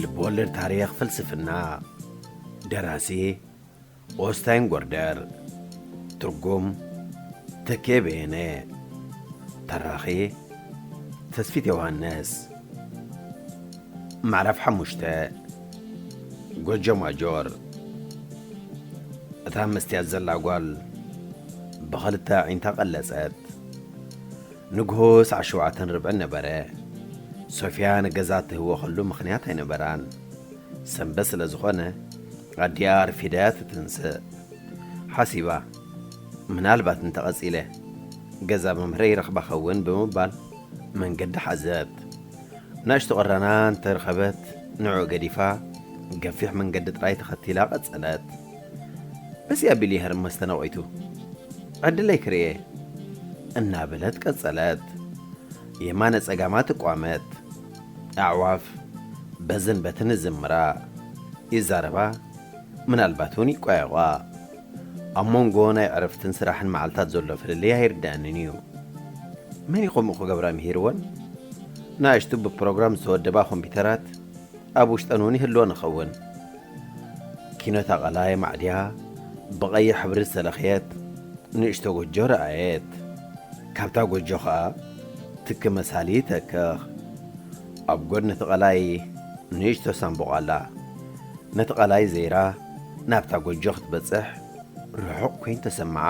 ልብወለድ ታሪኽ ፍልስፍና ደራሲ ኦስታይን ጎርደር ትርጉም ተኬ በየነ ተራኺ ተስፊት ዮሃንስ ምዕራፍ ሓሙሽተ ጎጆ ማጆር እታ መስትያት ዘላ ጓል ብኽልተ ኣዒንታ ቀለጸት ንግሆ ሳዕ ሸውዓተን ርብዕን ነበረ። ሶፍያ ንገዛ እትህወኸሉ ምኽንያት ኣይነበራን። ሰንበት ስለ ዝኾነ ኣዲኣ ኣርፊዳ'ያ ትትንስእ። ሓሲባ፣ ምናልባት እንተ ቐጺለ ገዛ መምህረይ ይረኽባ ኸውን ብምባል መንገዲ ሓዘት። ንእሽቶ ቕራና እንተ ረኸበት ንዕኡ ገዲፋ ገፊሕ መንገዲ ጥራይ ተኸቲላ ቐጸለት። ደስ ያቢል ይሀር መስተናወይቱ ዕድለይ ክርኤ እናበለት ቀጸለት። የማነ ጸጋማ ትቋመት። ኣዕዋፍ በዝን በትን ይዝምራ፣ ይዛረባ ምናልባት እውን ይቋየቋ። ኣብ ሞንጎ ናይ ዕረፍትን ስራሕን መዓልታት ዘሎ ፍልልይ ኣይርደኣንን እዩ። መን እዩ ከምኡ ክገብራ ምሂርወን? ንኣሽቱ ብፕሮግራም ዝተወደባ ኮምፒተራት ኣብ ውሽጠን እውን ይህልወን ይኸውን። ኪኖ ተቓላይ ማዕድያ ብቐይሕ ሕብሪ ዝተለኽየት ንእሽቶ ጎጆ ረኣየት። ካብታ ጎጆ ኸኣ ትኪ መሳሊ ይተክኽ። ኣብ ጎድኒ እቲ ቐላይ ንእሽቶ ሳንቡቕ ኣላ። ነቲ ቐላይ ዘይራ ናብታ ጎጆ ክትበጽሕ ርሑቕ ኮይኑ ተሰምዓ።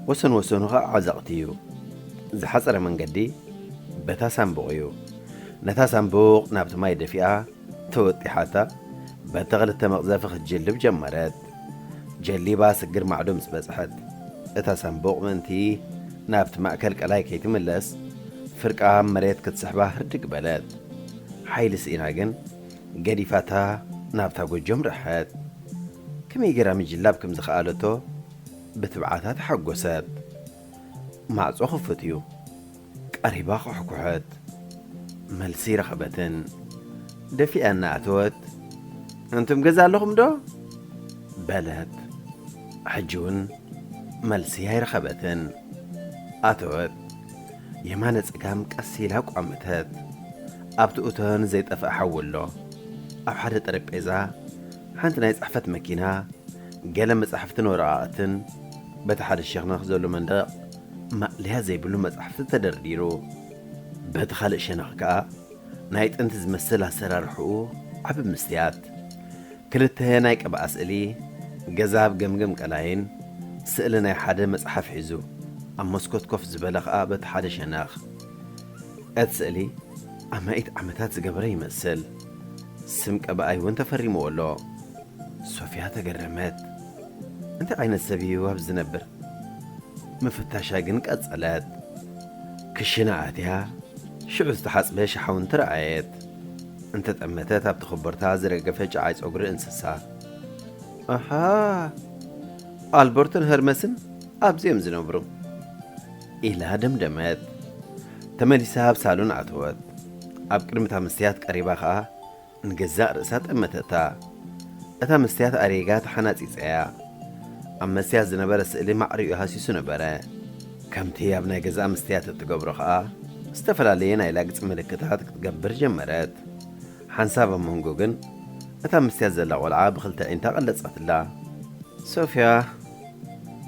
ወሰን ወሰኑ ኸኣ ዓዘቕቲ እዩ። ዝሓጸረ መንገዲ በታ ሳንቡቕ እዩ። ነታ ሳንቡቕ ናብቲ ማይ ደፊኣ ተወጢሓታ በቲ ክልተ መቕዘፊ ክትጅልብ ጀመረት። ጀሊባ ስግር ማዕዶ ምስ በጽሐት፣ እታ ሳንቡቕ ምእንቲ ናብቲ ማእከል ቀላይ ከይትምለስ ፍርቃ ኣብ መሬት ክትስሕባ ህርድግ በለት። ሓይሊ ስኢና ግን ገዲፋታ ናብታ ጎጆ ኣምረሐት። ከመይ ገይራ ምጅላብ ከም ዝኸኣለቶ ብትብዓታ ተሓጎሰት። ማዕጾ ክፉት እዩ። ቀሪባ ኳሕኩሐት። መልሲ ረኸበትን ደፊኣ እናኣተወት ኣንቱም ገዛ ኣለኹምዶ? በለት። ሕጂውን መልሲ ኣይረኸበትን። ኣተወት። የማነ ጸጋም ቀስ ኢላ ኣቋመተት። ኣብቲ እቶን ዘይጠፍኣ ሓዊ ኣሎ። ኣብ ሓደ ጠረጴዛ ሓንቲ ናይ ጽሕፈት መኪና፣ ገለ መጻሕፍትን ወረቓቕትን፣ በቲ ሓደ ሸኽነኽ ዘሎ መንደቕ፣ ማእለያ ዘይብሉ መጻሕፍቲ ተደርዲሩ። በቲ ኻልእ ሸነኽ ከኣ ናይ ጥንቲ ዝመስል ኣሰራርሕኡ ዓቢ ምስትያት፣ ክልተ ናይ ቅብኣ ስእሊ፣ ገዛ ኣብ ገምገም ቀላይን ስእሊ ናይ ሓደ መጽሓፍ ሒዙ ኣብ መስኮት ኮፍ ዝበለ ኸኣ በቲ ሓደ ሸነኽ። እቲ ስእሊ ኣማኢት ዓመታት ዝገበረ ይመስል። ስም ቀባኣይ'ውን ተፈሪምዎ ኣሎ። ሶፍያ ተገረመት። እንታይ ዓይነት ሰብ እዩ ኣብዚ ዝነብር? ምፍታሻ ግን ቀጸለት። ክሽነ ኣትያ ሽዑ ዝተሓጽበ ሸሓውንቲ ረኣየት። እንተጠመተት ኣብቲ ኮቦርታ ዝረገፈ ጨዓይ ጸጉሪ እንስሳ። ኣሓ! ኣልበርቶን ሀርመስን ኣብዚ እዮም ዝነብሩ። ኢላ ደምደመት። ተመሊሳ ኣብ ሳሎን ኣተወት። ኣብ ቅድሚ እታ መስትያት ቀሪባ ከኣ ንገዛእ ርእሳ ጠመተታ። እታ መስትያት ኣሪጋ ተሓናጺጸ'ያ። ኣብ መስትያት ዝነበረ ስእሊ ማዕሪኡ ሃሲሱ ነበረ። ከምቲ ኣብ ናይ ገዛኣ መስትያት እትገብሮ ከኣ፣ ዝተፈላለየ ናይ ላግጺ ምልክታት ክትገብር ጀመረት። ሓንሳብ ኣብ መንጎ ግን፣ እታ ኣብ መስትያት ዘላ ቆልዓ ብኽልተ ኣዒንታ ቀለጸትላ። ሶፍያ፣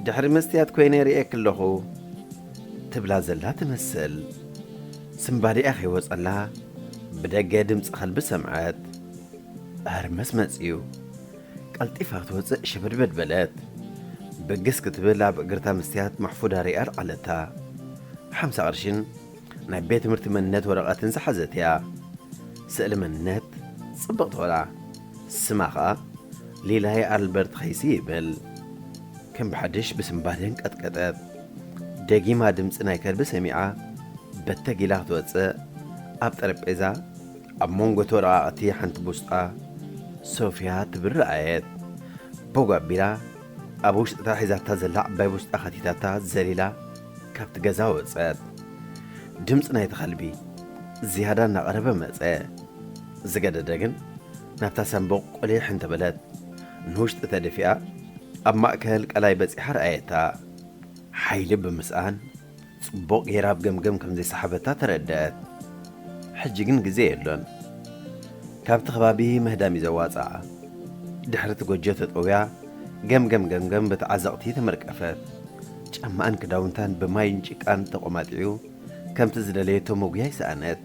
ድሕሪ መስትያት ኮይነ ርእየኪ ኣለኹ። ትብላ ዘላ ትመስል። ስንባዲኣ ከይወጸላ ብደገ ድምጺ ከልቢ ሰምዐት። ሀርመስ መጺኡ። ቀልጢፋ ክትወጽእ ሸበድበድ በለት። ብግስ ክትብል ኣብ እግርታ መስትያት ማሕፉዳ ሪኣ ኣልዓለታ። ሓምሳ ቅርሺን ናይ ቤት ትምህርቲ መንነት ወረቐትን ዝሓዘት እያ። ስእሊ መንነት ጽብቕቲ ቆልዓ። ስማ ኸኣ ሌላየ ኣልበርት ኸይሲ ይብል። ከም ብሓድሽ ብስምባደ ኣንቀጥቀጠት። ደጊማ ድምጺ ናይ ከልቢ ሰሚዓ በተግ ኢላ ክትወጽእ ኣብ ጠረጴዛ ኣብ መንጎ'ቲ ወረቓቕቲ ሓንቲ ቡስጣ ሶፍያ ትብል ረኣየት። ቦግ ኣቢላ ኣብ ውሽጢ'ታ ሒዛታ ዘላ ዓባይ ቡስጣ ከቲታታ ዘሊላ። ካብቲ ገዛ ወጸት። ድምጺ ናይቲ ከልቢ ዝያዳ እናቐረበ መጸ። ዝገደደ ግን ናብታ ሳንቡቕ ቁሊሕ እንተበለት ንውሽጢ ተደፊኣ ኣብ ማእከል ቀላይ በጺሓ ረኣየታ። ሓይሊ ብምስኣን ጽቡቕ ገይራ ኣብ ገምገም ከም ዘይሰሓበታ ተረደኣት። ሕጂ ግን ግዜ የሎን። ካብቲ ከባቢ ምህዳም እዩ ዘዋጽኣ። ድሕሪ እቲ ጎጆ ተጠውያ ገምገም ገምገም በቲ ዓዘቕቲ ተመርቀፈት። ጫማኣን ክዳውንታን ብማይን ጭቃን ተቖማጢዑ ከምቲ ዝደለየቶ መጉያይ ሰኣነት።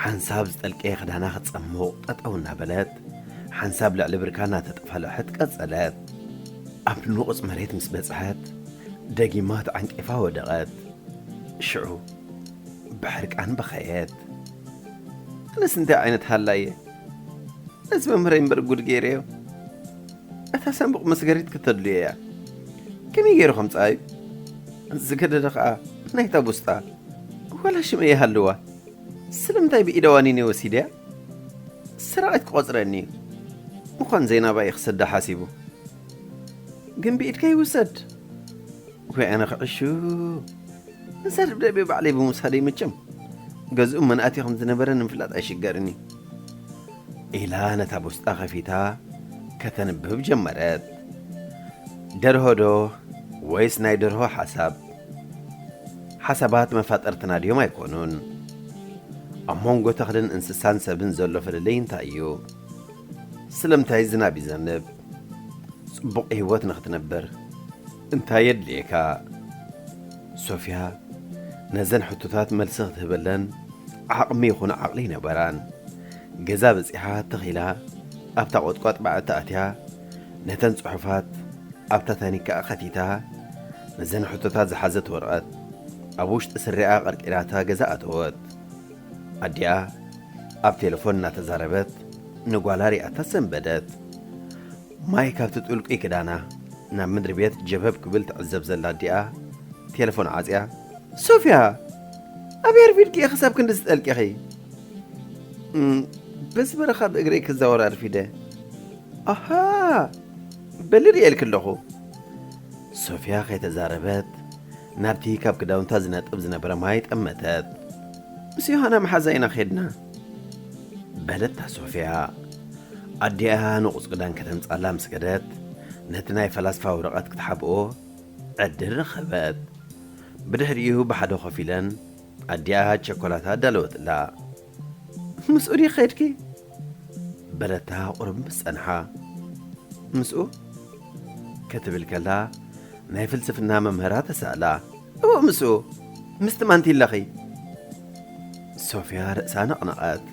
ሓንሳብ ዝጠልቀየ ክዳና ክትጸሙቕ ጠጠው እናበለት ሓንሳብ ልዕሊ ብርካ እናተጠፋልሐት ቀጸለት። ኣብ ንቑጽ መሬት ምስ በጽሐት ደጊማ ተዓንቂፋ ወደቐት። ሽዑ ብሕርቃን በኸየት። ኣነስ እንታይ ዓይነት ሃላይ እየ? ነዚ መምህረይ እምበር ጉድ ገይረዮ። እታ ሳንቡቕ መስገሪት ክተድልዮ እያ። ከመይ ገይሩ ከምጽኣዩ? ዝገደደ ኸኣ ናይታ ቡስጣ ዋላ ሽመይ ይሃልዋ ስለምንታይ ብኢደ ዋኒነይ ወሲደያ? ሰራቒት ክቖጽረኒ እዩ። ምዃን ዘይናባ እዩ ክሰዳ ሓሲቡ። ግን ብኢድካ ይውሰድ። ወይ ኣነ ክዕሹ! ነዛ ደብዳቤ ባዕለይ ብምውሳደይ መቸም ገዝኡ መን ኣትዩ ከም ዝነበረ ንምፍላጥ ኣይሽገርን እዩ። ኢላ ነታ ቡስጣ ከፊታ ከተንብብ ጀመረት። ደርሆ'ዶ ወይስ ናይ ደርሆ ሓሳብ? ሓሳባት መፋጠርትና ድዮም ኣይኮኑን? ኣብ መንጎ ተኽልን እንስሳን ሰብን ዘሎ ፍልልይ እንታይ እዩ? ስለምንታይ ዝናብ ይዘንብ? ጽቡቕ ህይወት ንኽትነብር። እንታይ የድልየካ? ሶፍያ ነዘን ሕቶታት መልሲ ክትህበለን ዓቕሚ ይኹን ዓቕሊ ኣይነበራን። ገዛ በጺሓ ትኽ ኢላ ኣብታ ቖጥቋጥ በዓቲ ኣትያ ነተን ጽሑፋት ኣብታ ታኒካኣ ከቲታ ነዘን ሕቶታት ዝሓዘት ወረቐት ኣብ ውሽጢ ስሪኣ ቀርቂራታ ገዛ ኣተወት። ኣዲኣ ኣብ ቴለፎን እናተዛረበት ንጓላ ሪኣታ ሰንበደት። ማይ ካብቲ ጥልቁይ ክዳና ናብ ምድሪ ቤት ጀብሀብ ክብል ትዕዘብ ዘላ ኣዲኣ ቴለፎን ዓጽያ ሶፍያ! ኣበይ ኣርፊድኪ ኢኺ ክሳብ ክንድዚ ጠልቂኺ? እም፣ በዚ በረኻ ብእግረይ ክዛወር ኣርፊደ። ኣሃ! በሊ ርእየልኪ ኣለኹ። ሶፍያ ከይተዛረበት ናብቲ ካብ ክዳውንታ ዝነጥብ ዝነበረ ማይ ጠመተት። ምስ ዮሃና መሓዛ ኢና ኬድና። በለታ ሶፍያ ኣዲኣ ንቑጽ ክዳን ከተምጻላ ምስ ከደት ነቲ ናይ ፈላስፋ ወረቐት ክትሓብኦ ዕድል ረኸበት። ብድሕሪኡ ብሓደ ኮፍ ኢለን ኣዲኣ ቸኮላታ ኣዳለወትላ። ምስኡ ድዩ ከድኪ? በለታ ቁሩብ ምስ ጸንሓ። ምስኡ? ክትብል ከላ ናይ ፍልስፍና መምህራ ተሳእላ። እወ ምስኡ ምስቲ ማንቲለኺ። ሶፍያ ርእሳ ነቕነቐት።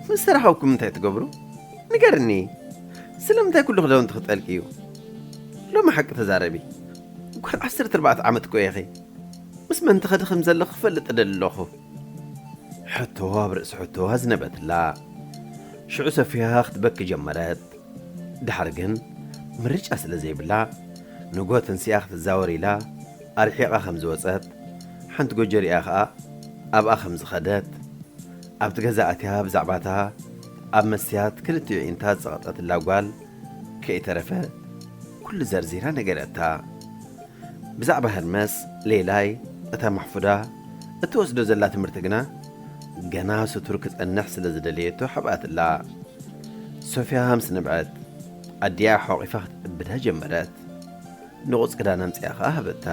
ምስ ተራኸብኩም እንታይ ትገብሩ? ንገርኒ! ስለምንታይ ኩሉ ክዳውንቲ ክጠልቅዩ? ሎሚ ሓቂ ተዛረቢ። ጓል ዓሰርተ ኣርባዕተ ዓመት እኮ ኢኺ። ምስ መን ትኸዲ ከም ዘለኺ ክፈልጥ እደሊ ኣለኹ። ሕቶ ኣብ ርእሲ ሕቶ ኣዝነበትላ። ሽዑ ሶፍያ ክትበኪ ጀመረት። ድሓር ግን ምርጫ ስለ ዘይብላ ንግሆ ተንሲኣ ክትዛወር ኢላ ኣርሒቓ ከም ዝወጸት፣ ሓንቲ ጎጆ ሪኣ ከኣ ኣብኣ ከም ዝኸደት፣ ኣብቲ ገዛ ኣትያ ብዛዕባ'ታ ኣብ መስትያት ክልቲኡ ኣዒንታ ዝጸቐጠትላ ጓል ከይተረፈ ኩሉ ዘርዚራ ነገረታ። ብዛዕባ ህርመስ ሌላይ እታ ማሕፉዳ እትወስዶ ዘላ ትምህርቲ ግና፣ ገና ስቱር ክጸንሕ ስለ ዝደለየቶ ሓብኣትላ። ሶፍያ ሃምስ ነብዐት። ኣዲኣ ሖቒፋ ክትዕብዳ ጀመረት። ንቑጽ ክዳን ኣምጺኣ ኸኣ ሃበታ።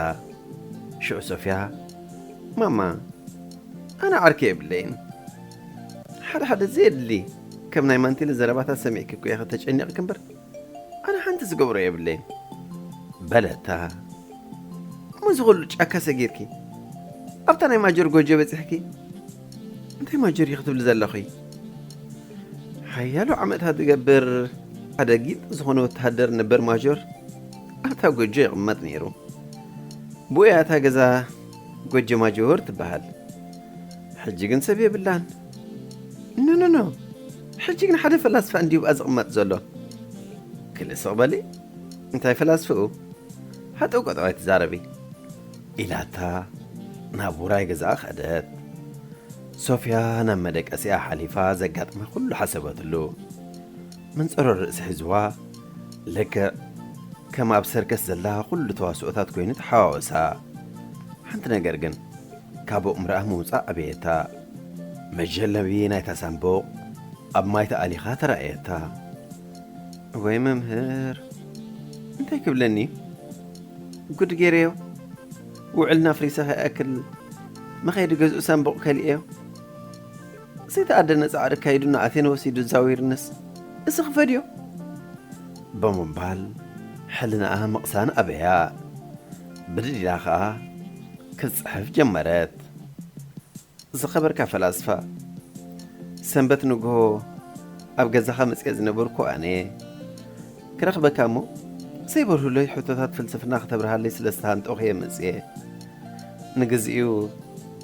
ሽዑ ሶፍያ፣ ማማ፣ ኣነ ዓርኪ የብለይን። ሓደ ሓደ ዘየድሊ ከም ናይ ማንቲለ ዘረባታት ሰሚዕኪ እኮ ኢኺ ተጨኒቕኪ እምበር፣ ኣነ ሓንቲ ዝገብሮ የብለይን በለታ። እሞ እዚ ኹሉ ጫካ ሰጊርኪ ኣብታ ናይ ማጆር ጎጆ በጺሕኪ እንታይ ማጆር እዩ ክትብሊ ዘለኺ? ሓያሎ ዓመታት ዝገብር ሓደ ጊንጢ ዝኾነ ወተሃደር ነበር ማጆር ኣብታ ጎጆ ይቕመጥ ነይሩ። ብኡያ እታ ገዛ ጎጆ ማጆር ትበሃል። ሕጂ ግን ሰብ የብላን። ኖኖኖ ሕጂ ግን ሓደ ፈላስፋ እንድዩብኣ ዝቕመጥ ዘሎ ክል ስቕ በሊ እንታይ ፈላስፍኡ ሃጠው ቀጠው ኣይትዛረቢ ኢላታ ናብ ውራይ ገዛኣ ከደት ሶፍያ ናብ መደቀሲኣ ሓሊፋ ዘጋጥማ ኩሉ ሓሰበትሉ መንጸሮ ርእሲ ሒዝዋ ልክዕ ከም ኣብ ሰርከስ ዘላ ኩሉ ተዋስኦታት ኮይኑ ተሓዋወሳ ሓንቲ ነገር ግን ካቡቕ ምርኣ ምውጻእ ኣበየታ። መጀለቢ ናይታ ሳንቡቕ ኣብ ማይ ተኣሊኻ ተራእየታ። እወይ መምህር እንታይ ክብለኒ እዩ ጉድ ጌረዮ ውዕልና ኣፍሪሰ ከይኣክል መኸይዲ ገዝኡ ሳንቡቕ ከሊኤዮ ዘይተኣደነ ጻዕሪ ኣካይዱ ንኣቴነ ወሲዱ ዛዊርንስ እዚ ክፈድዮ ብምባል ሕልናኣ ምቕሳን ኣበያ። ብድድ ኢላ ኸኣ ክትጽሕፍ ጀመረት። ዝኸበርካ ፈላስፋ፣ ሰንበት ንግሆ ኣብ ገዛኻ መጺኤ ዝነበርኩ ኣነ፣ ክረኽበካ እሞ ዘይበርሁለይ ሕቶታት ፍልስፍና ክተብርሃለይ ስለ ዝተሃንጠኹ'የ መጺኤ። ንግዜኡ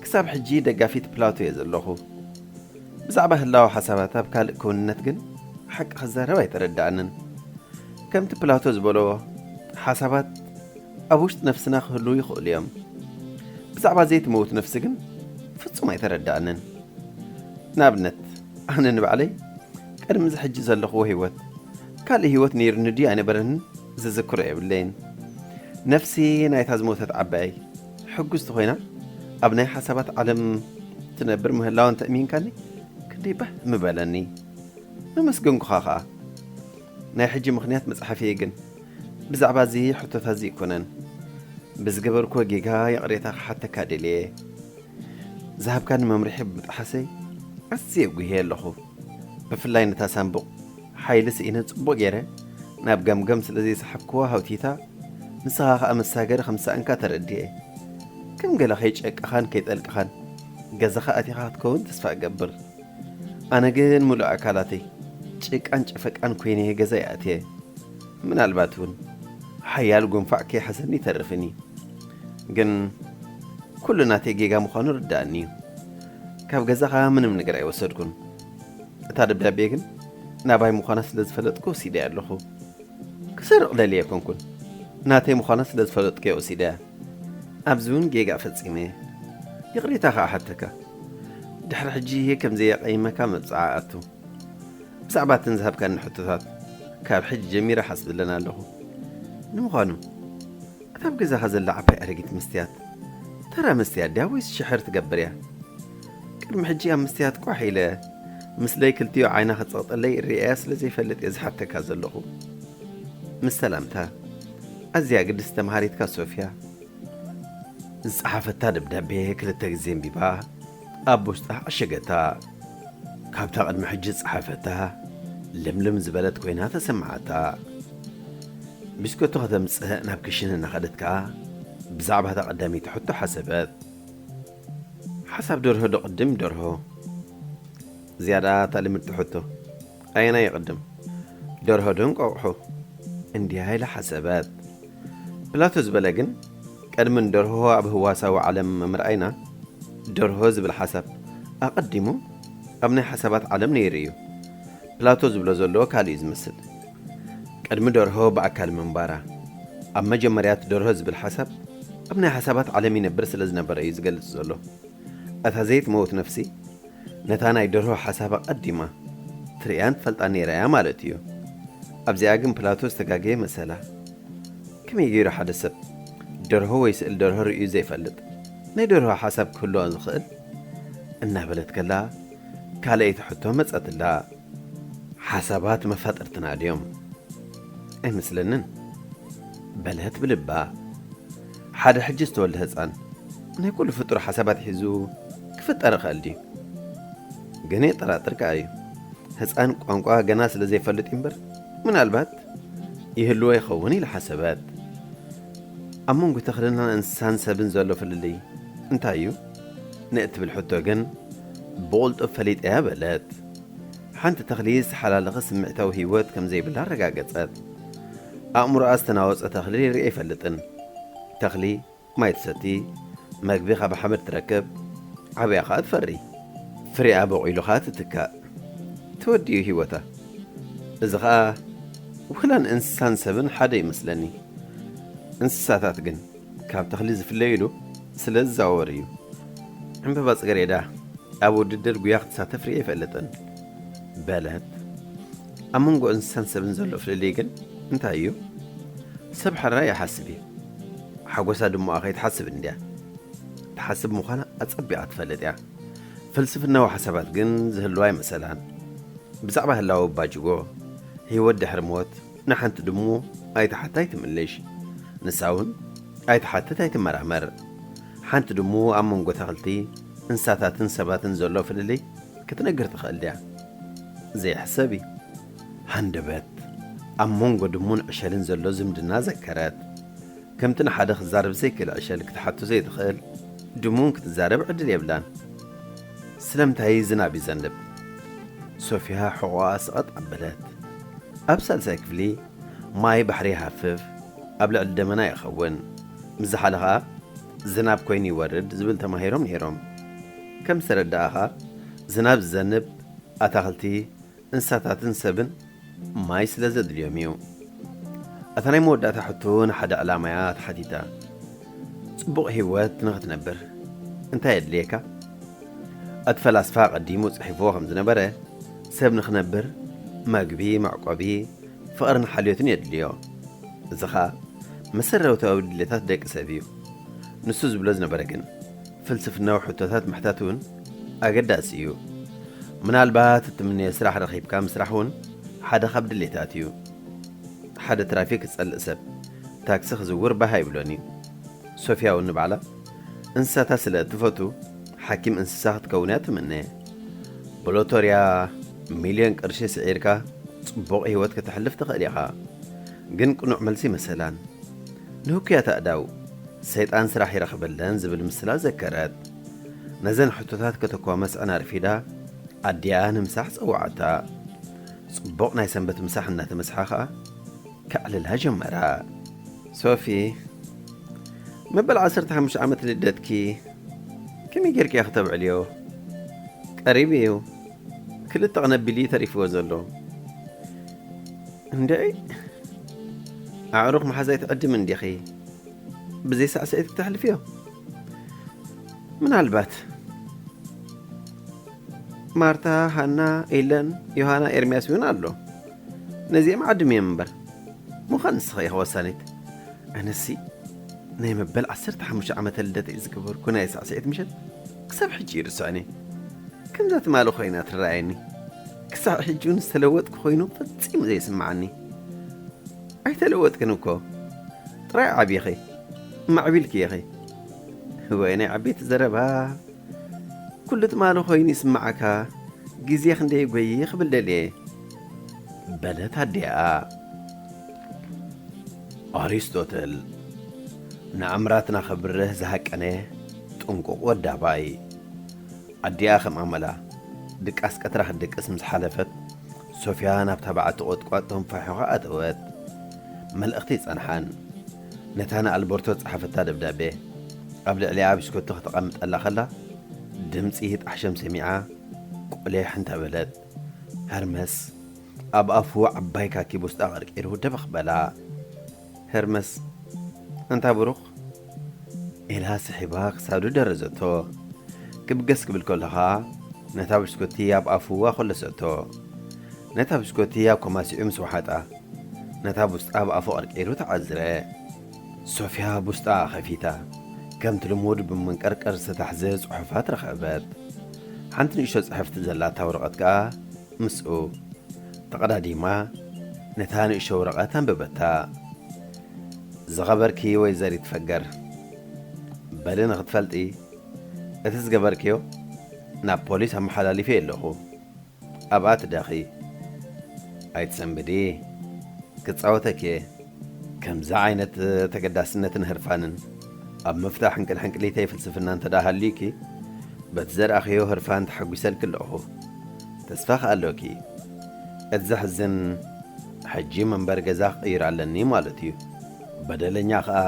ክሳብ ሕጂ ደጋፊት ፕላቶ'የ ዘለኹ። ብዛዕባ ህላወ ሓሳባት ኣብ ካልእ ክውንነት ግን ሓቂ ክዛረብ ኣይተረድኣንን። ከምቲ ፕላቶ ዝበሎ ሓሳባት ኣብ ውሽጢ ነፍስና ክህልዉ ይኽእሉ እዮም። ብዛዕባ ዘይትመውት ነፍሲ ግን ፍጹም ኣይተረድኣንን። ንኣብነት፣ ኣነ ንባዕለይ ቅድሚ እዚ ሕጂ ዘለኽዎ ህይወት፣ ካልእ ህይወት ነይሩኒ ድዩ ኣይነበረንን ዝዝክሮ የብለይን። ነፍሲ ናይታ ዝሞተት ዓባየይ ሕጉስቲ ኮይና ኣብ ናይ ሓሳባት ዓለም ትነብር ምህላዋ እንተ እሚንካኒ ክንደይ ባህ ምበለኒ። መመስገንኩኻ ከኣ። ናይ ሕጂ ምኽንያት መጽሓፍየይ ግን ብዛዕባ እዚ ሕቶታት ዝይኮነን ብዝገበርክዎ ጌጋ ይቕሬታ ክሓተካ ደልየ። ዝሃብካኒ መምርሒ ብምጥሓሰይ ኣዝየ ጉህየ ኣለኹ። ብፍላይ ነታ ሳንቡቕ ሓይሊ ስኢነ ጽቡቕ ጌረ ናብ ገምገም ስለ ዘይሰሓብክዋ ሃውቲታ ንስኻ ከኣ መሳገሪ ከም ዝሰኣንካ ተረዲኤ። ከም ገለ ከይጨቀኻን ከይጠልቅኻን ገዛኻ ኣቲኻ ክትከውን ተስፋ እገብር። ኣነ ግን ምሉእ ኣካላተይ ጭቃን ጨፈቃን ኮይነ'የ ገዛይ ኣትየ። ምናልባት'ውን ሓያል ጉንፋዕ ከይሓዘኒ ይተርፍ'ዩ። ግን ኩሉ ናተይ ጌጋ ምዃኑ ርደኣኒ'ዩ። ካብ ገዛኻ ምንም ነገር ኣይወሰድኩን። እታ ደብዳቤ ግን ናባይ ምዃና ስለ ዝፈለጥኩ ወሲደያ ኣለኹ። ክሰርቕ ደልየ ኣይኮንኩን፣ ናተይ ምዃና ስለ ዝፈለጥኩ'የ ወሲደያ። ኣብዚ ውን ጌጋ ፈጺመ እየ ይቕሬታ ከኣ እሓተካ ድሕሪ ሕጂ እየ ከም ዘየቐይመካ መብጽዓ ኣቱ ብዛዕባ እተን ዝሃብካኒ ሕቶታት ካብ ሕጂ ጀሚረ እሓስበለን ኣለኹ ንምዃኑ እታ ኣብ ገዛኻ ዘላ ዓባይ ኣረጊት መስትያት ተራ መስትያት ድያ ወይስ ሽሕር ትገብር እያ ቅድሚ ሕጂ ኣብ መስትያት ቋሕ ኢለ ምስለይ ክልቲኡ ዓይና ክትጸቕጠለይ እርኣያ ስለ ዘይፈልጥ እየ ዝሓተካ ዘለኹ ምስ ሰላምታ ኣዝያ ግድስቲ ተምሃሪትካ ሶፍያ ዝጸሓፈታ ደብዳቤ ክልተ ግዜ ኣንቢባ ኣብ ውሽጣ ዓሸገታ። ካብታ ቅድሚ ሕጂ ዝጸሓፈታ ልምልም ዝበለት ኮይና ተሰመዓታ። ቢስኮቶ ከተምጽእ ናብ ክሽነ እናኸደት ከኣ ብዛዕባ እታ ቀዳመይቲ ሕቶ ሓሰበት። ሓሳብ ደርሆ ዶ ቅድም ደርሆ? ዝያዳ እታ ልምድቲ ሕቶ። ኣየናይ ይቕድም ደርሆ ዶ እንቋቑሖ እንድያ ኢላ ሓሰበት። ፕላቶ ዝበለ ግን ቅድሚ ንደርሆ ኣብ ህዋሳዊ ዓለም ምርኣይና ደርሆ ዝብል ሓሳብ ኣቐዲሙ ኣብ ናይ ሓሳባት ዓለም ነይሩ እዩ። ፕላቶ ዝብሎ ዘሎ ካልእ እዩ ዝመስል። ቅድሚ ደርሆ ብኣካል ምንባራ ኣብ መጀመርያት ደርሆ ዝብል ሓሳብ ኣብ ናይ ሓሳባት ዓለም ይነብር ስለ ዝነበረ እዩ ዝገልጽ ዘሎ። እታ ዘይትመውት ነፍሲ ነታ ናይ ደርሆ ሓሳብ ኣቐዲማ ትርእያን ትፈልጣን ነይራ እያ ማለት እዩ። ኣብዚኣ ግን ፕላቶ ዝተጋገየ መሰላ። ከመይ ገይሩ ሓደ ሰብ ደርሆ ወይ ስእሊ ደርሆ ርእዩ ዘይፈልጥ ናይ ደርሆ ሓሳብ ክህልዎ ዝኽእል? እናበለት ከላ ካልኣይቲ ሕቶ መጸትላ። ሓሳባት መፋጥርትና ድዮም? ኣይመስለንን። በለት ብልባ። ሓደ ሕጂ ዝተወልደ ህጻን ናይ ኩሉ ፍጡር ሓሳባት ሒዙ ክፍጠር ይኸእል ድዩ? ግን የጠራጥር ከኣ እዩ። ህጻን ቋንቋ ገና ስለ ዘይፈልጥ እዩ'ምበር ምናልባት ይህልዎ ይኸውን ኢላ ሓሰበት። ኣብ መንጎ ተኽልን እንስሳን ሰብን ዘሎ ፍልልይ እንታይ እዩ? ንእትብል ሕቶ ግን ብቕልጡፍ ፈሊጠያ በለት። ሓንቲ ተኽሊ ዝተሓላለኸ ስምዒታዊ ህይወት ከም ዘይብላ ኣረጋገጸት። ኣእምሮኣ ዝተናወጸ ተኽሊ ርእየ ኣይፈልጥን። ተኽሊ ማይ ትሰቲ፣ መግቢ ካብ ሓመድ ትረክብ፣ ዓብያ ከኣ ትፈሪ። ፍሪኣ ቦቒሉ ከኣ ትትካእ። ተወዲኡ ህይወታ። እዚ ከኣ ውክላ ንእንስሳን ሰብን ሓደ እዩ መስለኒ። እንስሳታት ግን ካብ ተኽሊ ዝፍለዩሉ ስለ ዝዛወር እዩ። ዕምበባ ጽገሬዳ ኣብ ውድድር ጉያ ክትሳተፍ ርእየ ኣይፈልጥን። በለት። ኣብ መንጎ እንስሳን ሰብን ዘሎ ፍልልይ ግን እንታይ እዩ? ሰብ ሕራይ ይሓስብ እዩ። ሓጎሳ ድሙቓ ከይትሓስብ እንድያ ትሓስብ ምዃና ኣጸቢቓ ትፈልጥ እያ። ፍልስፍናዊ ሓሳባት ግን ዝህልዋ ኣይመሰላን። ብዛዕባ ህላወ ኣባጅጎ፣ ህይወት ድሕሪ ሞት ንሓንቲ ድሙ ኣይትሓት ኣይትምልሽ። ንሳ እውን ኣይትሓትት ኣይትመራመር። ሓንቲ ድሙ ኣብ መንጎ ተኽልቲ፣ እንስሳታትን ሰባትን ዘሎ ፍልልይ ክትነግር ትኽእል ድያ? ዘይሕሰብ እዩ። ሃንደበት ኣብ ሞንጎ ድሙን ዕሸልን ዘሎ ዝምድና ዘከረት። ከምቲ ንሓደ ክዛረብ ዘይክእል ዕሸል ክትሓቱ ዘይትኽእል ድሙን ክትዛረብ ዕድል የብላን። ስለምታይ ዝናብ ይዘንብ? ሶፍያ ሕቖኣ ሰቐጥ ኣበለት። ኣብ ሳልሳይ ክፍሊ ማይ ባሕሪ ይሃፍፍ፣ ኣብ ልዕሊ ደመና ይኸውን። ምስ ዝሓለ ከኣ ዝናብ ኮይኑ ይወርድ ዝብል ተማሂሮም ነይሮም። ከም ዝተረዳእኻ ዝናብ ዝዘንብ ኣታኽልቲ፣ እንስሳታትን ሰብን ማይ ስለ ዘድልዮም እዩ። እታ ናይ መወዳእታ ሕቶ ንሓደ ዕላማ እያ ተሓቲታ። ጽቡቕ ህይወት ንኽትነብር እንታይ የድልየካ? እቲ ፈላስፋ ኣቐዲሙ ጽሒፍዎ ከም ዝነበረ ሰብ ንኽነብር መግቢ፣ መዕቆቢ፣ ፍቕርን ሓልዮትን የድልዮ። እዚ ኸኣ መሰረታዊ ድሌታት ደቂ ሰብ እዩ። ንሱ ዝብሎ ዝነበረ ግን። ፍልስፍናዊ ሕቶታት ምሕታት እውን ኣገዳሲ እዩ። ምናልባት እትምነዮ ስራሕ ረኺብካ ምስራሕ እውን ሓደ ካብ ድሌታት እዩ። ሓደ ትራፊክ ዝጸልእ ሰብ ታክሲ ክዝውር ባህ ኣይብሎን እዩ። ሶፍያ እውን ንባዕላ እንስሳታት ስለ እትፈቱ ሓኪም እንስሳ ክትከውን እያ እትምነ። ብሎቶርያ ሚልዮን ቅርሺ ስዒርካ ጽቡቕ ህይወት ከተሕልፍ ትኽእል ኢኻ። ግን ቅኑዕ መልሲ መሰላን ንህኩያት ኣእዳው። ሰይጣን ስራሕ ይረኽበለን ዝብል ምስላ ዘከረት። ነዘን ሕቶታት ከተኳ መስዐን ኣርፊዳ ኣዲኣ ንምሳሕ ጸውዓታ። ጽቡቕ ናይ ሰንበት ምሳሕ እናተመስሓ ከኣ ከዕልላ ጀመራ። ሶፊ፣ መበል ዓሰርተ ሓሙሽተ ዓመት ልደትኪ ከመይ ጌርኪ እያ ክተብዕልዮ? ቀሪቡ እዩ፣ ክልተ ቕነ ኣቢሉ እዩ ተሪፍዎ ዘሎ። እንድዒ! ኣዕሩኽ ምሓዝ ኣይትዕድምን ዲኺ? ብዘይ ሳዕስዒት ክተሕልፍዮ ምናልባት ማርታ ሃና ኤለን ዮሃና ኤርምያስ እውን ኣሎ ነዚኦም ዓድም እዮም እምበር ምዃን ንስኸ ኢኻ ወሳኒት ኣነሲ ናይ መበል 15 ዓመተ ልደት እዩ ዝገበርኩ ናይ ሳዕስዒት ምሸት ክሳብ ሕጂ ይርስዖኒ ከምዛ ትማሊ ኮይና ትረኣየኒ ክሳብ ሕጂ እውን ዝተለወጥኩ ኮይኑ ፈፂሙ ዘይስምዓኒ ኣይተለወጥክን እኮ ጥራይ ዓቢኺ ማዕቢልኪ ኢኺ። እዋይ ናይ ዓበይቲ ዘረባ ኩሉ ትማሊ ኮይኑ ይስምዓካ ግዜ ክንደይ ጎይ ክብል ደልየ በለት ኣዲኣ። ኣሪስቶትል ንኣምራትና ከብርህ ዝሃቀነ ጥንቁቕ ወዲ ኣባይ። ኣዲኣ ከም ኣመላ ድቃስ ቀትራ ክትድቅስ ምስ ሓለፈት፣ ሶፍያ ናብታ በዓቲ ቖጥቋጥ ተንፋሒዃ ኣተወት። መልእኽቲ ኣይጸንሓን። ነታ ንኣልበርቶ ዝጸሓፈታ ደብዳቤ ኣብ ልዕሊኣ ብሽኮቲ ከተቐምጠላ ከላ ድምጺ ጣሕሸም ሰሚዓ ቁሊሕ እንተ በለት። ሀርመስ ኣብ ኣፉ ዓባይ ካኪ ቡስጣ ቀርቂሩ ደበኽ በላ። ሄርመስ ኣንታ ብሩኽ ኢላ ስሒባ ክሳዱ ደረዘቶ። ክብገስ ክብል ከሎ ከኣ ነታ ብሽኮቲ ኣብ ኣፉ ኣኾለሰቶ። ነታ ብሽኮቲ ኣብ ኮማሲዑ ምስ ወሓጣ ነታ ቡስጣ ኣብ ኣፉ ቀርቂሩ ተዓዝረ። ሶፍያ ቡስጣኣ ከፊታ ከምቲ ልሙድ ብመንቀርቀር ዝተታሕዘ ጽሑፋት ረኸበት። ሓንቲ ንእሽቶ ጽሕፍቲ ዘላታ ወረቐት ከኣ ምስኡ ተቐዳዲማ ነታ ንእሽቶ ወረቐት ኣንበበታ። ዝኸበርኪ ወይዘሪት ፈገር፣ በሊ ንኽትፈልጢ፣ እቲ ዝገበርክዮ ናብ ፖሊስ ኣመሓላሊፈዮ ኣለኹ። ኣብኣ ትደኺ። ኣይትሰንብዲ። ክጻወተኪ'የ። ከምዚ ዓይነት ተገዳስነትን ህርፋንን ኣብ ምፍታሕ ሕንቅልሕንቅሊተይ ፍልስፍና እንተድኣ ሃልዩኪ፣ በቲ ዘርኣኽዮ ህርፋን ተሓጒሰልኪ ኣለኹ። ተስፋኽ ኣሎኪ እት ዘሕዝን ሕጂ መንበሪ ገዛ ክቅይር ኣለኒ ማለት እዩ በደለኛ ከኣ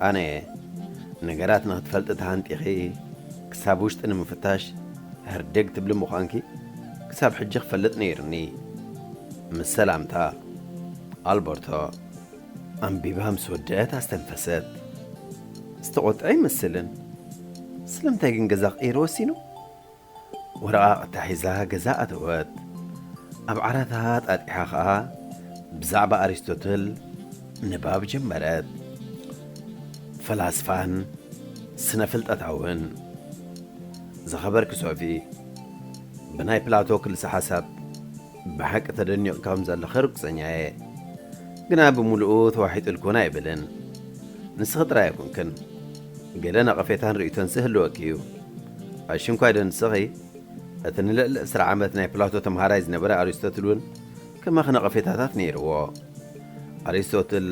ኣነ እየ ነገራት ንክትፈልጢ ተሃንጢኪ ክሳብ ውሽጢ ንምፍታሽ ህርድግ ትብሊ ምኳንኪ ክሳብ ሕጂ ክፈልጥ ነይሩኒ ምስ ሰላምታ ኣልበርቶ ኣንቢባ ምስ ወደእት ኣስተንፈሰት ዝተቆጥዐ ኣይመስልን ስለምንታይ ግን ገዛ ክቅይር ወሲኑ ወረቓቕታ ሒዛ ገዛ ኣተወት። ኣብ ዓራታ ኣጣጢሓ ኸኣ ብዛዕባ ኣሪስቶትል ንባብ ጀመረት። ፈላስፋን ስነፍልጠታውን ዝኸበርኪ ሶፊ፣ ብናይ ፕላቶ ክልሰ-ሓሳብ፣ ብሓቂ ተደኒቑ ከም ዘለኺ ርግጸኛ እየ። ግና ብምሉኡ ተዋሒጡልክውን ኣይብልን። ንስኺ ጥራይ ኣይኩንክን። ገለ ነቐፌታን ርእይቶን ስህልወኪ እዩ። ኣሽንኳይዶ ንስኺ? እቲ ንልዕሊ ዕስራ ዓመት ናይ ፕላቶ ተምሃራይ ዝነበረ ኣሪስቶትል እውን ከማኺ ነቐፌታታት ነይርዎ። ኣሪስቶትል፣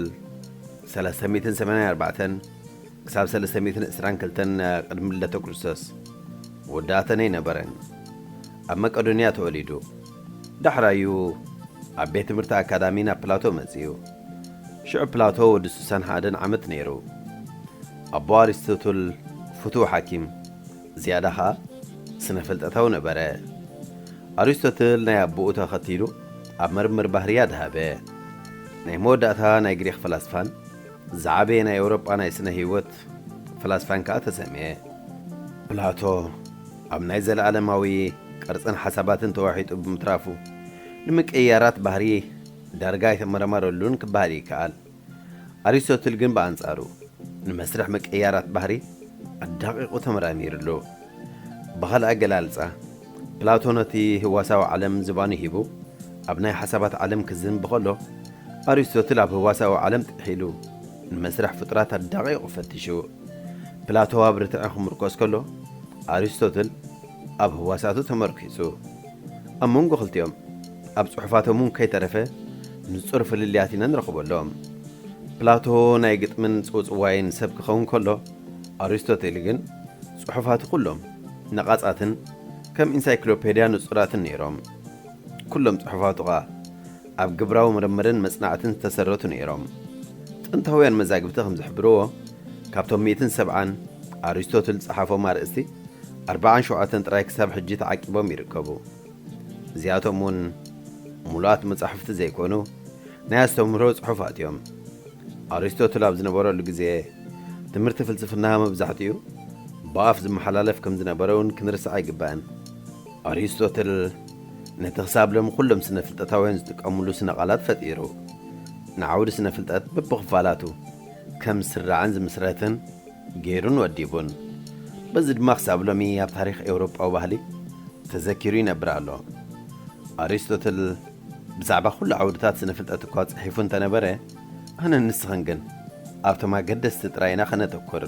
ሰለስተ ሚእትን ሰማንያን ኣርባዕተን። ክሳብ ሰለስተ ሚእትን ዕስራን ክልተን ቅድሚ ልደተ ክርስቶስ ወዲ ኣተነይ ነበረ። ኣብ መቀዶንያ ተወሊዱ። ዳሕራዩ ኣብ ቤት ትምህርቲ ኣካዳሚ ናብ ፕላቶ መጺኡ። ሽዑ ፕላቶ ወዲ ስሳን ሓደን ዓመት ነይሩ። ኣቦ ኣሪስቶትል ፍቱው ሓኪም፣ ዝያዳ ከኣ ስነ-ፍልጠታዊ ነበረ። ኣሪስቶትል ናይ ኣቦኡ ተኸቲሉ ኣብ ምርምር ባህሪ ኣድሃበ። ናይ መወዳእታ ናይ ግሪኽ ፈላስፋን፣ ዝዓበየ ናይ ኤውሮጳ ናይ ስነ ህይወት ፈላስፋን ከኣ ተሰምየ። ፕላቶ ኣብ ናይ ዘለኣለማዊ ቅርጽን ሓሳባትን ተዋሒጡ ብምትራፉ፣ ንምቅይያራት ባህሪ ዳርጋ ኣይተመራመረሉን ክበሃል ይከኣል። ኣሪስቶትል ግን ብኣንጻሩ፣ ንመስርሕ ምቅይያራት ባህሪ ኣዳቒቑ ተመራሚርሉ። ብኻልእ ኣገላልጻ፣ ፕላቶ ነቲ ህዋሳዊ ዓለም ዝባኑ ሂቡ ኣብ ናይ ሓሳባት ዓለም ክዝንቢ ከሎ፣ ኣሪስቶትል ኣብ ህዋሳዊ ዓለም ጥሒሉ ንመስርሕ ፍጡራት ኣዳቒቑ ፈቲሹ። ፕላቶ ኣብ ርትዒ ክምርኮስ ከሎ፣ ኣሪስቶትል ኣብ ህዋሳቱ ተመርኲሱ። ኣብ መንጎ ክልቲኦም፣ ኣብ ጽሑፋቶም እውን ከይተረፈ ንጹር ፍልልያት ኢና ንረኽበሎም። ፕላቶ ናይ ግጥምን ጽውጽዋይን ሰብ ክኸውን ከሎ፣ ኣሪስቶትል ግን ጽሑፋቱ ኩሎም ነቓጻትን ከም ኢንሳይክሎፔድያ ንጹራትን ነይሮም። ኵሎም ጽሑፋቱ ኸኣ ኣብ ግብራዊ ምርምርን መጽናዕትን ዝተሰረቱ ነይሮም። ጥንታውያን መዛግብቲ ከም ዝሕብርዎ፣ ካብቶም ሚእትን ሰብዓን ኣሪስቶትል ዝጸሓፎም ኣርእስቲ፣ ኣርባዓን ሸውዓተን ጥራይ ክሳብ ሕጂ ተዓቂቦም ይርከቡ። እዚኣቶም እውን ሙሉኣት መጻሕፍቲ ዘይኮኑ ናይ ኣስተምህሮ ጽሑፋት እዮም። ኣሪስቶትል ኣብ ዝነበረሉ ግዜ ትምህርቲ ፍልስፍና መብዛሕትኡ ብኣፍ ዝመሓላለፍ ከም ዝነበረ እውን ክንርስዕ ኣይግባእን። ኣሪስቶትል ነቲ ክሳብ ሎሚ ኩሎም ስነ ፍልጠታውያን ዝጥቀምሉ ስነ ቃላት ፈጢሩ። ንዓውዲ ስነ ፍልጠት በብኽፋላቱ ከም ዝስራዕን ዝምስረትን፣ ገይሩን ወዲቡን። በዚ ድማ ክሳብ ሎሚ ኣብ ታሪኽ ኤውሮጳዊ ባህሊ ተዘኪሩ ይነብር ኣሎ። ኣሪስቶትል ብዛዕባ ኩሉ ዓውድታት ስነ-ፍልጠት እኳ ጽሒፉ እንተ ነበረ፣ ኣነን ንስኽን ግን ኣብቶም ኣገደስቲ ጥራይ ኢና ከነተኩር።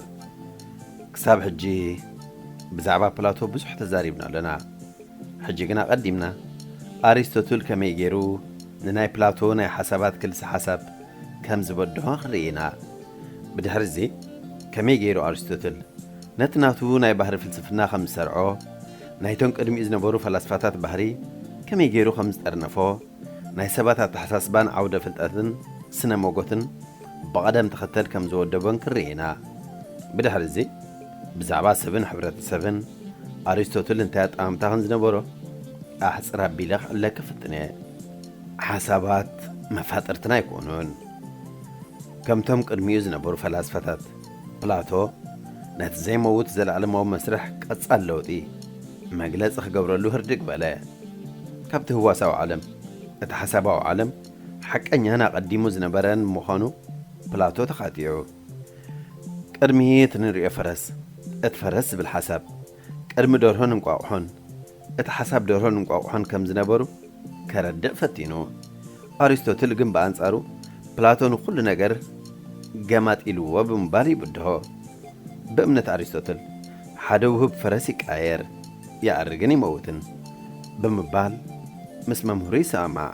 ክሳብ ሕጂ ብዛዕባ ፕላቶ ብዙሕ ተዛሪብና ኣሎና። ሕጂ ግን ኣቐዲምና ኣሪስቶትል ከመይ ገይሩ ንናይ ፕላቶ ናይ ሓሳባት ክልሰ-ሓሳብ ከም ዝበድሆ ክንርኢ ኢና። ብድሕርዚ ከመይ ገይሩ ኣርስቶትል ነቲ ናቱ ናይ ባህሪ ፍልስፍና ከም ዝሰርዖ፣ ናይቶም ቅድሚኡ ዝነበሩ ፈላስፋታት ባህሪ ከመይ ገይሩ ከም ዝጠርነፎ፣ ናይ ሰባት ኣተሓሳስባን ዓውደ ፍልጠትን ስነ ሞጎትን ብቐደም ተኸተል ከም ዝወደቦን ክንርኢ ኢና። ብድሕርዚ ብዛዕባ ሰብን ሕብረተሰብን ኣርስቶትል እንታይ ኣጠማምታ ከም ዝነበሮ ኣሕጽር ኣቢለ ክዕለኪ ፍጥነ። ሓሳባት መፋጥርትና ኣይኮኑን። ከምቶም ቅድሚኡ ዝነበሩ ፈላስፋታት ፕላቶ ነቲ ዘይመውት ዘለኣለማዊ መስርሕ ቀጻሊ ለውጢ መግለጺ ክገብረሉ ህርድግ በለ። ካብቲ ህዋሳዊ ዓለም እቲ ሓሳባዊ ዓለም ሓቀኛን ኣቐዲሙ ዝነበረን ምዃኑ ፕላቶ ተኻቲዑ። ቅድሚት ንርእዮ ፈረስ እቲ ፈረስ ዝብል ሓሳብ ቅድሚ ደርሆን እንቋቑሖን እቲ ሓሳብ ደርሆን እንቋቑሖን ከም ዝነበሩ ከረድእ ፈቲኑ። ኣሪስቶትል ግን ብኣንጻሩ ፕላቶ ንኹሉ ነገር ገማጢልዎ ብምባል ይብድሆ። ብእምነት ኣሪስቶትል ሓደ ውህብ ፈረስ ይቃየር፣ ይኣርግን ይመውትን ብምባል ምስ መምህሩ ይሰማማዕ።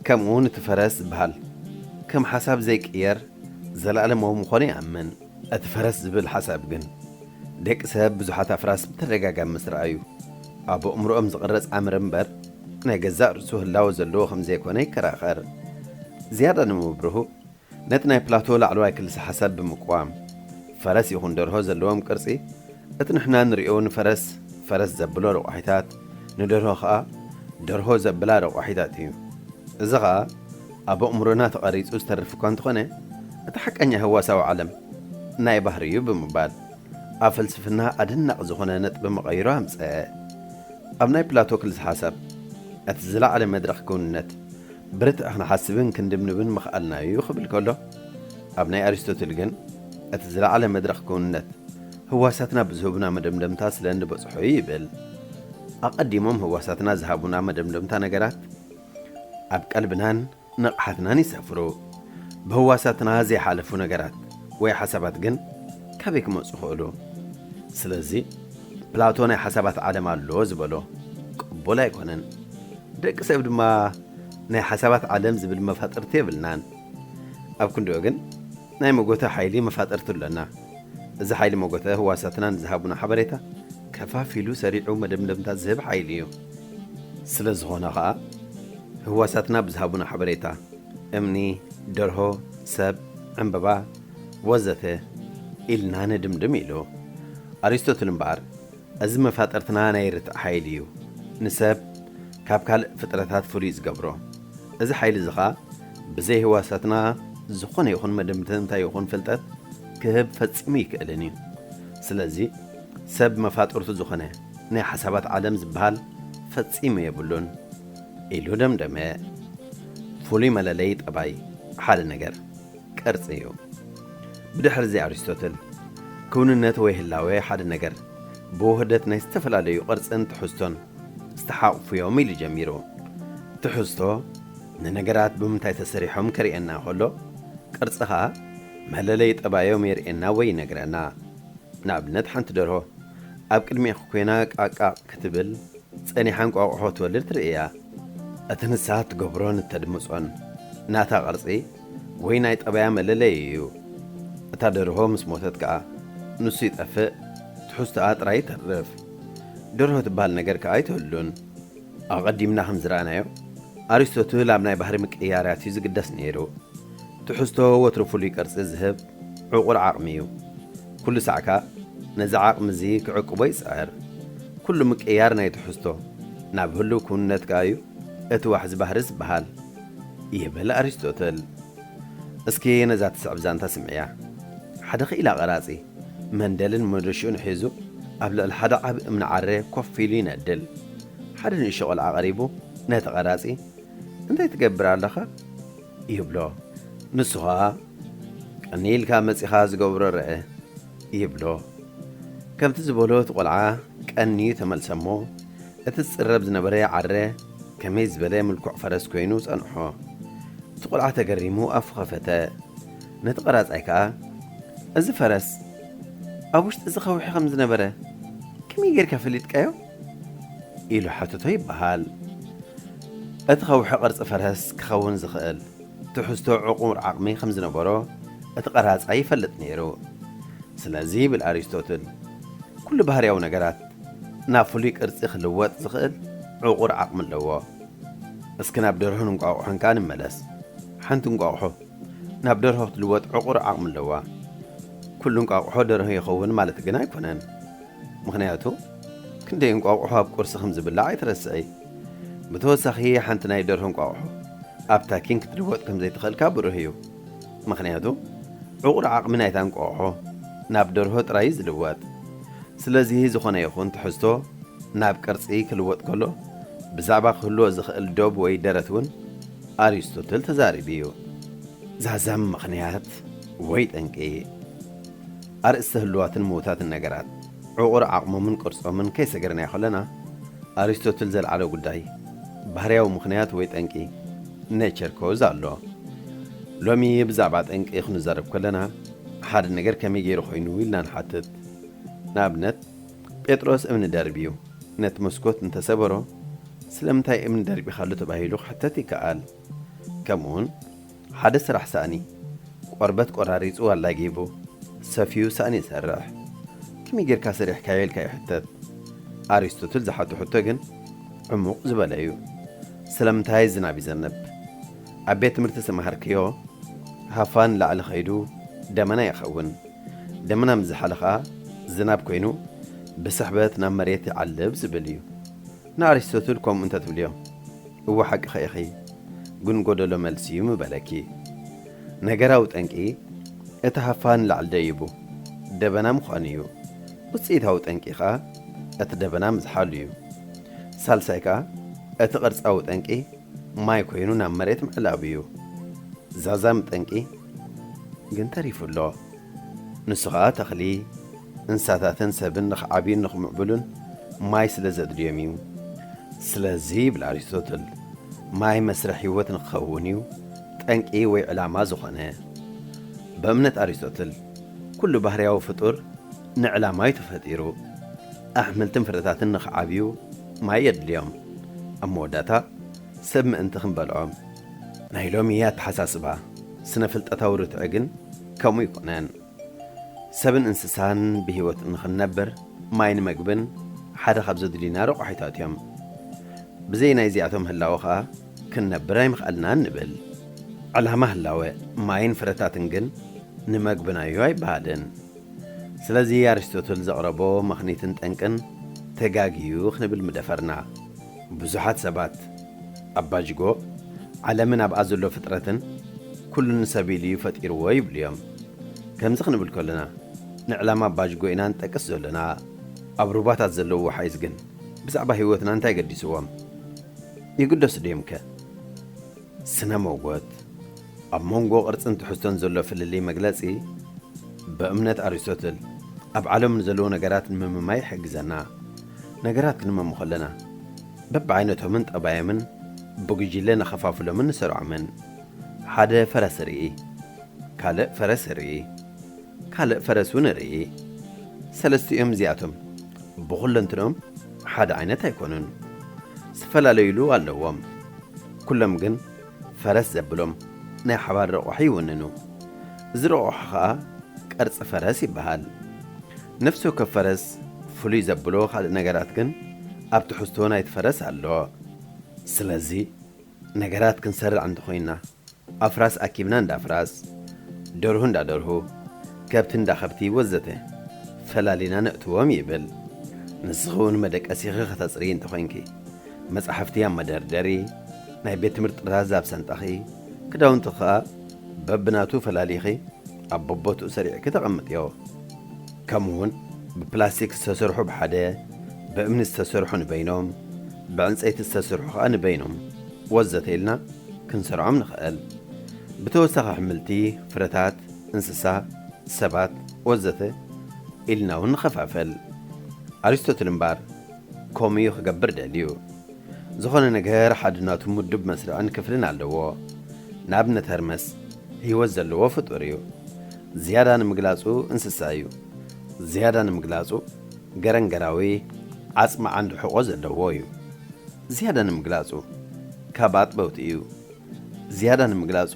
ከምኡውን እቲ ፈረስ ዝበሃል ከም ሓሳብ ዘይቅየር ዘለኣለማዊ ምዃኑ ይኣምን። እቲ ፈረስ ዝብል ሓሳብ ግን፣ ደቂ ሰብ ብዙሓት ኣፍራስ ብተደጋጋሚ ምስ ረኣዩ፣ ኣብ ኣእምሮኦም ዝቕረጽ ኣምር እምበር፣ ናይ ገዛእ ርእሱ ህላወ ዘለዎ ከም ዘይኮነ ይከራኸር። ዝያዳ ንምብርሁ፣ ነቲ ናይ ፕላቶ ላዕለዋይ ክልሰ-ሓሳብ ብምቅዋም፣ ፈረስ ይኹን ደርሆ ዘለዎም ቅርጺ፣ እቲ ንሕና እንርእዮ ንፈረስ ፈረስ ዘብሎ ረቋሒታት፣ ንደርሆ ከኣ ደርሆ ዘብላ ረቋሒታት እዩ። እዚ ከኣ ኣብ ኣእምሮና ተቐሪጹ ዝተርፍ እኳ እንተኾነ፣ እቲ ሓቀኛ ህዋሳዊ ዓለም ናይ ባህሪ እዩ ብምባል ኣብ ፍልስፍና ኣደናቂ ዝኾነ ነጥቢ መቐይሮ ኣምጸ። ኣብ ናይ ፕላቶ ክልሰ ሓሳብ እቲ ዝለዓለ መድረኽ ክውንነት፣ ብርትዕ ክንሓስብን ክንድብንብን ምኽኣልና እዩ ክብል ከሎ፣ ኣብ ናይ ኣሪስቶትል ግን እቲ ዝለዓለ መድረኽ ክውንነት ህዋሳትና ብዝህቡና መደምደምታ ስለ እንበጽሖ እዩ ይብል። ኣቐዲሞም ህዋሳትና ዝሃቡና መደምደምታ ነገራት ኣብ ቀልብናን ንቕሓትናን ይሰፍሩ። ብህዋሳትና ዘይሓለፉ ነገራት ወይ ሓሳባት ግን ካበይ ክመጹ ይኽእሉ? ስለዚ። ፕላቶ ናይ ሓሳባት ዓለም ኣሎ ዝበሎ ቅቡል ኣይኮነን። ደቂ ሰብ ድማ ናይ ሓሳባት ዓለም ዝብል መፋጥርቲ የብልናን። ኣብ ክንድኡ ግን ናይ መጎተ ሓይሊ መፋጥርቲ ኣሎና። እዚ ሓይሊ መጎተ ህዋሳትና ንዝሃቡና ሓበሬታ ከፋፊሉ ሰሪዑ መደምደምታ ዝህብ ሓይሊ እዩ። ስለ ዝኾነ ከኣ ህዋሳትና ብዝሃቡና ሓበሬታ እምኒ፣ ደርሆ፣ ሰብ፣ ዕንበባ፣ ወዘተ ኢልና ንድምድም ኢሉ። ኣሪስቶትል እምበኣር እዚ መፋጥርትና ናይ ርትዒ ሓይሊ እዩ ንሰብ ካብ ካልእ ፍጥረታት ፍሉይ ዝገብሮ። እዚ ሓይሊ እዚ ኸኣ ብዘይ ህዋሳትና ዝኾነ ይኹን መደምደምታ ይኹን ፍልጠት ክህብ ፈጺሙ ኣይክእልን እዩ። ስለዚ ሰብ መፋጥርቱ ዝኾነ ናይ ሓሳባት ዓለም ዝበሃል ፈጺሙ የብሉን ኢሉ ደምደመ። ፍሉይ መለለዪ ጠባይ ሓደ ነገር። ቅርጺ እዩ። ብድሕርዚ ኣሪስቶትል፣ ክውንነት ወይ ህላዌ ሓደ ነገር፣ ብውህደት ናይ ዝተፈላለዩ ቅርጽን ትሕዝቶን ዝተሓቑፉ'ዮም ኢሉ ጀሚሩ። ትሕዝቶ፣ ንነገራት ብምንታይ ተሰሪሖም ከርእየና ከሎ፣ ቅርጺ ከኣ መለለዪ ጠባዮም የርእየና ወይ ይነግረና። ንኣብነት ሓንቲ ደርሆ ኣብ ቅድሜኺ ኮይና ቃቃቕ ክትብል ጸኒሓ እንቋቑሖ ክትወልድ ትርእይያ። እቲ ንሳ እትገብሮን እተድምጾን ናታ ቅርጺ፣ ወይ ናይ ጠባያ መለለዪ እዩ። እታ ደርሆ ምስ ሞተት ከኣ ንሱ ይጠፍእ ትሕዝቶኣ ጥራይ ይተርፍ። ደርሆ ትበሃል ነገር ከኣ ኣይትህሉን። ኣቐዲምና ከም ዝረኣናዮ ኣሪስቶትል ኣብ ናይ ባህሪ ምቅይያራት እዩ ዝግደስ ነይሩ። ትሕዝቶ ወትሩ ፍሉይ ቅርጺ ዝህብ ዕቑር ዓቕሚ እዩ። ኩሉ ሳዕ ከኣ ነዚ ዓቕሚ እዚ ክዕቅቦ ይጽዕር። ኩሉ ምቅይያር ናይ ትሕዝቶ ናብ ህሉው ክውንነት ከኣ እዩ እቲ ዋሕዚ ባህሪ ዝበሃል። ይብል ኣሪስቶትል። እስኪ ነዛ ትስዕብ ዛንታ ስምዕያ። ሓደ ክኢላ ቀራጺ፣ መንደልን መዶሽኡን ሒዙ ኣብ ልዕሊ ሓደ ዓቢ እምኒ ዓረ ኮፍ ኢሉ ይነድል። ሓደ ንእሽቶ ቆልዓ ቀሪቡ ነቲ ቀራጺ፣ እንታይ ትገብር ኣለኻ? ይብሎ። ንሱ ከኣ፣ ቀንይ ኢልካ መጺኻ ዝገብሮ ርኣ። ይብሎ። ከምቲ ዝበሎ እቲ ቆልዓ ቀንዩ ተመልሰ'ሞ፣ እቲ ዝጽረብ ዝነበረ ዓረ፣ ከመይ ዝበለ ምልኩዕ ፈረስ ኰይኑ ጸንሖ! እቲ ቈልዓ ተገሪሙ ኣፉ ኸፈተ። ነቲ ቐራጻይ ከኣ፣ እዚ ፈረስ ኣብ ውሽጢ እዚ ኸውሒ ኸም ዝነበረ ከመይ ጌርካ ፈሊጥካዮ? ኢሉ ሓተቶ ይበሃል። እቲ ኸውሒ ቕርጺ ፈረስ ኪኸውን ዚኽእል ትሕዝቶ ዕቑር ዓቕሚ ኸም ዝነበሮ እቲ ቐራጻይ ይፈልጥ ነይሩ። ስለዚ ይብል ኣሪስቶትል፣ ኵሉ ባህርያዊ ነገራት ናብ ፍሉይ ቅርጺ ክልወጥ ዝኽእል ዕቑር ዓቕሚ ኣለዎ። እስኪ ናብ ደርሆን እንቋቑሖን ከኣ ንመለስ። ሓንቲ እንቋቑሖ ናብ ደርሆ ክትልወጥ ዕቑር ዓቕሚ ኣለዋ። ኩሉ እንቋቑሖ ደርሆ ይኸውን ማለት ግን ኣይኮነን። ምኽንያቱ ክንደይ እንቋቑሖ ኣብ ቁርሲ ከም ዝብላዕ ኣይትረስዒ። ብተወሳኺ ሓንቲ ናይ ደርሆ እንቋቑሖ ኣብ ታኪን ክትልወጥ ከም ዘይትኽእል ከኣ ብሩህ እዩ። ምኽንያቱ ዕቑር ዓቕሚ ናይታ እንቋቑሖ ናብ ደርሆ ጥራይ እዩ ዝልወጥ። ስለዚ ዝኾነ ይኹን ትሕዝቶ ናብ ቅርጺ ክልወጥ ከሎ ብዛዕባ ክህልዎ ዝኽእል ዶብ ወይ ደረት እውን ኣሪስቶትል ተዛሪቡ እዩ። ዛዛሚ ምኽንያት ወይ ጠንቂ። ኣርእስተ ህሉዋትን ምዉታትን ነገራት፣ ዕቑር ዓቕሞምን ቅርጾምን ከይሰገርናዮ ከለና፣ ኣሪስቶትል ዘልዓሎ ጉዳይ፣ ባህርያዊ ምኽንያት ወይ ጠንቂ፣ Nature Cause፣ ኣሎ። ሎሚ ብዛዕባ ጠንቂ ክንዛረብ ከለና፣ ሓደ ነገር ከመይ ገይሩ ኮይኑ ኢልና ንሓትት። ንኣብነት፣ ጴጥሮስ እምኒ ደርብዩ ነቲ መስኮት እንተ ሰበሮ፣ ስለምንታይ እምኒ ደርቢኻሉ ተባሂሉ ክሕተት ይከኣል። ከምኡውን፣ ሓደ ስራሕ ሳእኒ ቆርበት ቆራሪጹ ኣላጊቡ ሰፍዩ ሳእኒ ይሰርሕ። ከመይ ጌርካ ሰሪሕካዮ ኢልካ ይሕተት። ኣሪስቶትል ዝሓቶ ሕቶ ግን ዕሙቕ ዝበለ እዩ። ስለምንታይ ዝናብ ይዘንብ? ኣብ ቤት ትምህርቲ ዝተመሃርክዮ ሃፋ ንላዕሊ ከይዱ ደመና ይኸውን። ደመና ምስ ዝሓለ ከኣ ዝናብ ኮይኑ ብስሕበት ናብ መሬት ይዓልብ ዝብል እዩ። ንኣሪስቶትል ከምኡ እንተ ትብልዮ፣ እወ ሓቅኺ ኢኺ፣ ግን ጎደሎ መልሲ እዩ ምበለኪ። ነገራዊ ጠንቂ እቲ ሃፋ ንላዕሊ ደይቡ ደበና ምዃኑ እዩ። ውጽኢታዊ ጠንቂ ከኣ እቲ ደበና ምዝሓሉ እዩ። ሳልሳይ ከኣ እቲ ቅርጻዊ ጠንቂ ማይ ኮይኑ ናብ መሬት ምዕላቡ እዩ። ዛዛሚ ጠንቂ ግን ተሪፉ ኣሎ። ንሱ ኸኣ ተኽሊ፣ እንስሳታትን ሰብን ንኽዓብዩን ንኽምዕብሉን ማይ ስለ ዘድልዮም እዩ። ስለዚ ይብል ኣሪስቶትል፣ ማይ መስርሕ ህይወት ንኽኸውን እዩ ጠንቂ ወይ ዕላማ ዝዀነ። ብእምነት ኣሪስቶትል፣ ኵሉ ባህርያዊ ፍጡር ንዕላማ እዩ ተፈጢሩ። ኣሕምልትን ፍረታትን ንኽዓብዩ ማይ የድልዮም። ኣብ መወዳእታ፣ ሰብ ምእንቲ ክንበልዖም። ናይ ሎሚ ኣተሓሳስባ ስነ-ፍልጠታዊ ርትዒ ግን፣ ከምኡ ይኹነን ሰብን እንስሳን ብህይወት እንክንነብር ማይን መግብን ሓደ ካብ ዘድልዩና ረቋሒታት እዮም። ብዘይ ናይዚኣቶም ህላወ ከኣ ክንነብር ኣይምኸኣልናን ንብል። ዕላማ ህላወ ማይን ፍረታትን ግን ንመግብና'ዩ ኣይበሃልን። ስለዚ ኣሪስቶትል ዘቕረቦ ምኽኒትን ጠንቅን ተጋግዩ ክንብል ምደፈርና። ብዙሓት ሰባት፣ ኣባጅጎ፣ ዓለምን ኣብኣ ዘሎ ፍጥረትን ኩሉ ንሰብ ኢሉ'ዩ ፈጢርዎ ይብሉ'ዮም። ከምዚ ክንብል ከሎና፣ ንዕላማ ኣባጅጎ ኢና ንጠቅስ ዘሎና። ኣብ ሩባታት ዘለዉ ወሓይዝ ግን ብዛዕባ ህይወትና እንታይ ገዲሱዎም? ይግደሱ ድዮምከ? ስነ-መጎት። ኣብ መንጎ ቅርጽን ትሕዝቶን ዘሎ ፍልልይ መግለጺ ብእምነት ኣሪስቶትል ኣብ ዓለም ንዘለዉ ነገራት ንምምማይ ይሕግዘና። ነገራት ክንመም ከሎና በብዓይነቶምን ጠባዮምን ብጉጅለ ንኸፋፍሎምን ንሰርዖምን። ሓደ ፈረስ እርኢ። ካልእ ፈረስ እርኢ። ካልእ ፈረስ እውን እርኢ። ሰለስቲኦም እዚኣቶም ብኹለንትንኦም ሓደ ዓይነት ኣይኮኑን። ዝተፈላለዩሉ ኣለዎም። ኩሎም ግን ፈረስ ዘብሎም ናይ ሓባር ረቑሒ ይውንኑ። እዚ ረቑሒ ከኣ ቅርጺ ፈረስ ይበሃል። ነፍሲ ወከፍ ፈረስ ፍሉይ ዘብሎ ካልእ ነገራት ግን ኣብ ትሕዝቶ ናይቲ ፈረስ ኣሎ። ስለዚ ነገራት ክንሰርዕ እንተኾይንና ኣፍራስ ኣኪብና እንዳ ኣፍራስ፣ ደርሁ እንዳ ደርሁ፣ ከብቲ እንዳ ከብቲ ወዘተ ፈላሊና ነእትዎም ይብል። ንስኺ እውን መደቀሲኺ ከተጽርዪ እንተኾይንኪ፣ መጻሕፍቲ ኣብ መደርደሪ፣ ናይ ቤት ትምህርቲ ጥራዝ ኣብ ሰንጣኺ፣ ክዳውንቲ ከኣ በብናቱ ፈላሊኺ ኣብ በቦትኡ ሰሪዕኪ ተቐምጥዮ። ከምኡውን ብፕላስቲክ ዝተሰርሑ ብሓደ፣ ብእምኒ ዝተሰርሑ ንበይኖም፣ ብዕንጸይቲ ዝተሰርሑ ከኣ ንበይኖም ወዘተ ኢልና ክንሰርዖም ንኸእል። ብተወሳኺ ኣሕምልቲ፣ ፍረታት፣ እንስሳ፣ ሰባት ወዘተ ኢልናውን ንኸፋፈል። ኣሪስቶትል እምበኣር፣ ከምኡ እዩ ክገብር ደልዩ። ዝኾነ ነገር ሓድ ናቱ ምዱብ መስርዕን ክፍልን ኣለዎ። ንኣብነት ሀርመስ ህይወት ዘለዎ ፍጡር እዩ። ዝያዳ ንምግላጹ እንስሳ እዩ። ዝያዳ ንምግላጹ ገረንገራዊ ዓጽሚ ዓንዲ ሕቖ ዘለዎ እዩ። ዝያዳ ንምግላጹ ካብ ኣጥበውቲ እዩ። ዝያዳ ንምግላጹ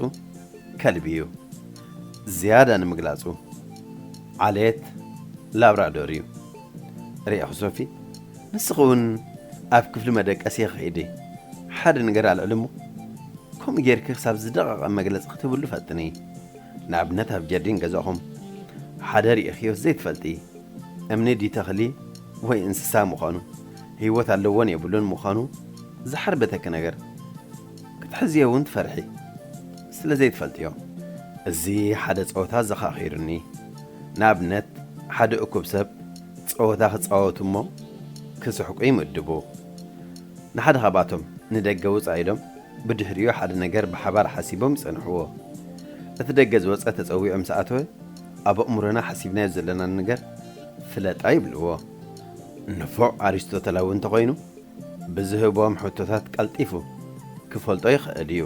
ከልቢ እዩ። ዝያዳ ንምግላጹ ዓሌት ላብራዶር እዩ። ርኤኹ ሶፊ ንስኺ ውን ኣብ ክፍሊ መደቀሲ ኺዲ ሓደ ነገር ኣልዕሊ እሞ ከምኡ ጌርኪ ክሳብ ዝደቐቐ መግለጺ ክትህብሉ ፈጥኒ ንኣብነት ኣብ ጀርዲን ገዛኹም ሓደ ርኢኽዮስ ዘይትፈልጢ እምኒ ድዩ ተኽሊ ወይ እንስሳ ምዃኑ ህይወት ኣለዎን የብሉን ምዃኑ ዝሓርበተኪ ነገር ክትሕዝዮ ውን ትፈርሒ ስለ ዘይትፈልጥዮ እዚ ሓደ ጸወታ ኣዘኻኺሩኒ ንኣብነት፣ ሓደ እኩብ ሰብ ጸወታ ክጻወቱ እሞ ክስሕቁ ይምድቡ። ንሓደ ካብኣቶም ንደገ ውጻእ ኢሎም ብድሕሪኡ ሓደ ነገር ብሓባር ሓሲቦም ይጸንሕዎ። እቲ ደገ ዝወጸ ተጸዊዑ ምስ ኣተወ ኣብ ኣእምሮና ሓሲብናዮ ዘለና ነገር ፍለጣ ይብልዎ። ንፉዕ ኣሪስቶተላዊ እንተኾይኑ ብዝህቦም ሕቶታት ቀልጢፉ ክፈልጦ ይኽእል እዩ።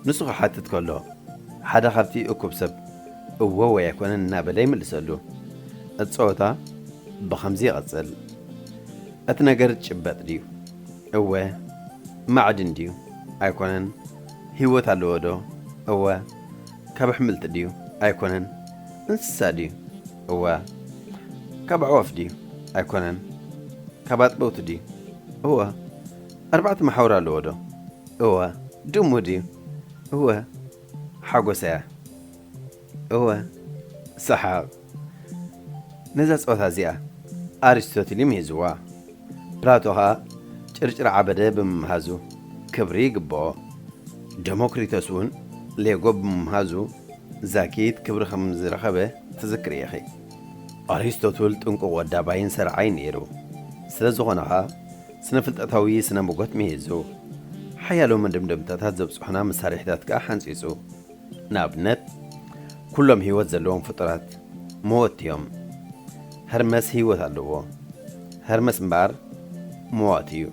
ንሱ ክሓትት ከሎ ሓደ ካብቲ እኩብ ሰብ እወ ወይ ኣይኮነን እናበለ ይምልሰሉ። እቲ ጸወታ ብኸምዚ ይቕጽል። እቲ ነገር ዝጭበጥ ድዩ? እወ። ማዕድን ድዩ? ኣይኮነን። ህይወት ኣለዎዶ? እወ። ካብ ኣሕምልቲ ድዩ? ኣይኮነን። እንስሳ ድዩ? እወ። ካብ ኣዕዋፍ ድዩ? ኣይኮነን። ካብ ኣጥበውቲ ድዩ? እወ። ኣርባዕተ መሓውር ኣለዎዶ? እወ። ድሙ ድዩ? እወ። ሓጎሰ፣ እወ። ሰሓቕ፣ ነዛ ጸወታ እዚኣ ኣሪስቶትል እዩ ምሂዝዋ። ፕላቶ ኸኣ ጭርጭር ዓበደ ብምምሃዙ ክብሪ ይግብኦ። ደሞክሪቶስ'ውን ሌጎ ብምምሃዙ ዛኪት ክብሪ ከም ዝረኸበ ትዝክሪ ኢኺ። ኣሪስቶትል ጥንቁቕ ወዳባይን ሰርዓይን ነይሩ። ስለ ዝኾነ ኸኣ ስነ-ፍልጠታዊ ስነ-ሞጎት ምሂዙ። ሓያሎ መደምደምታታት ዘብጽሑና መሳርሒታት ከኣ ሓንጺጹ። ንኣብነት፣ ኩሎም ህይወት ዘለዎም ፍጡራት፣ መወት'ዮም። ሀርመስ ህይወት ኣለዎ። ሀርመስ እምበኣር መዋቲ'ዩ።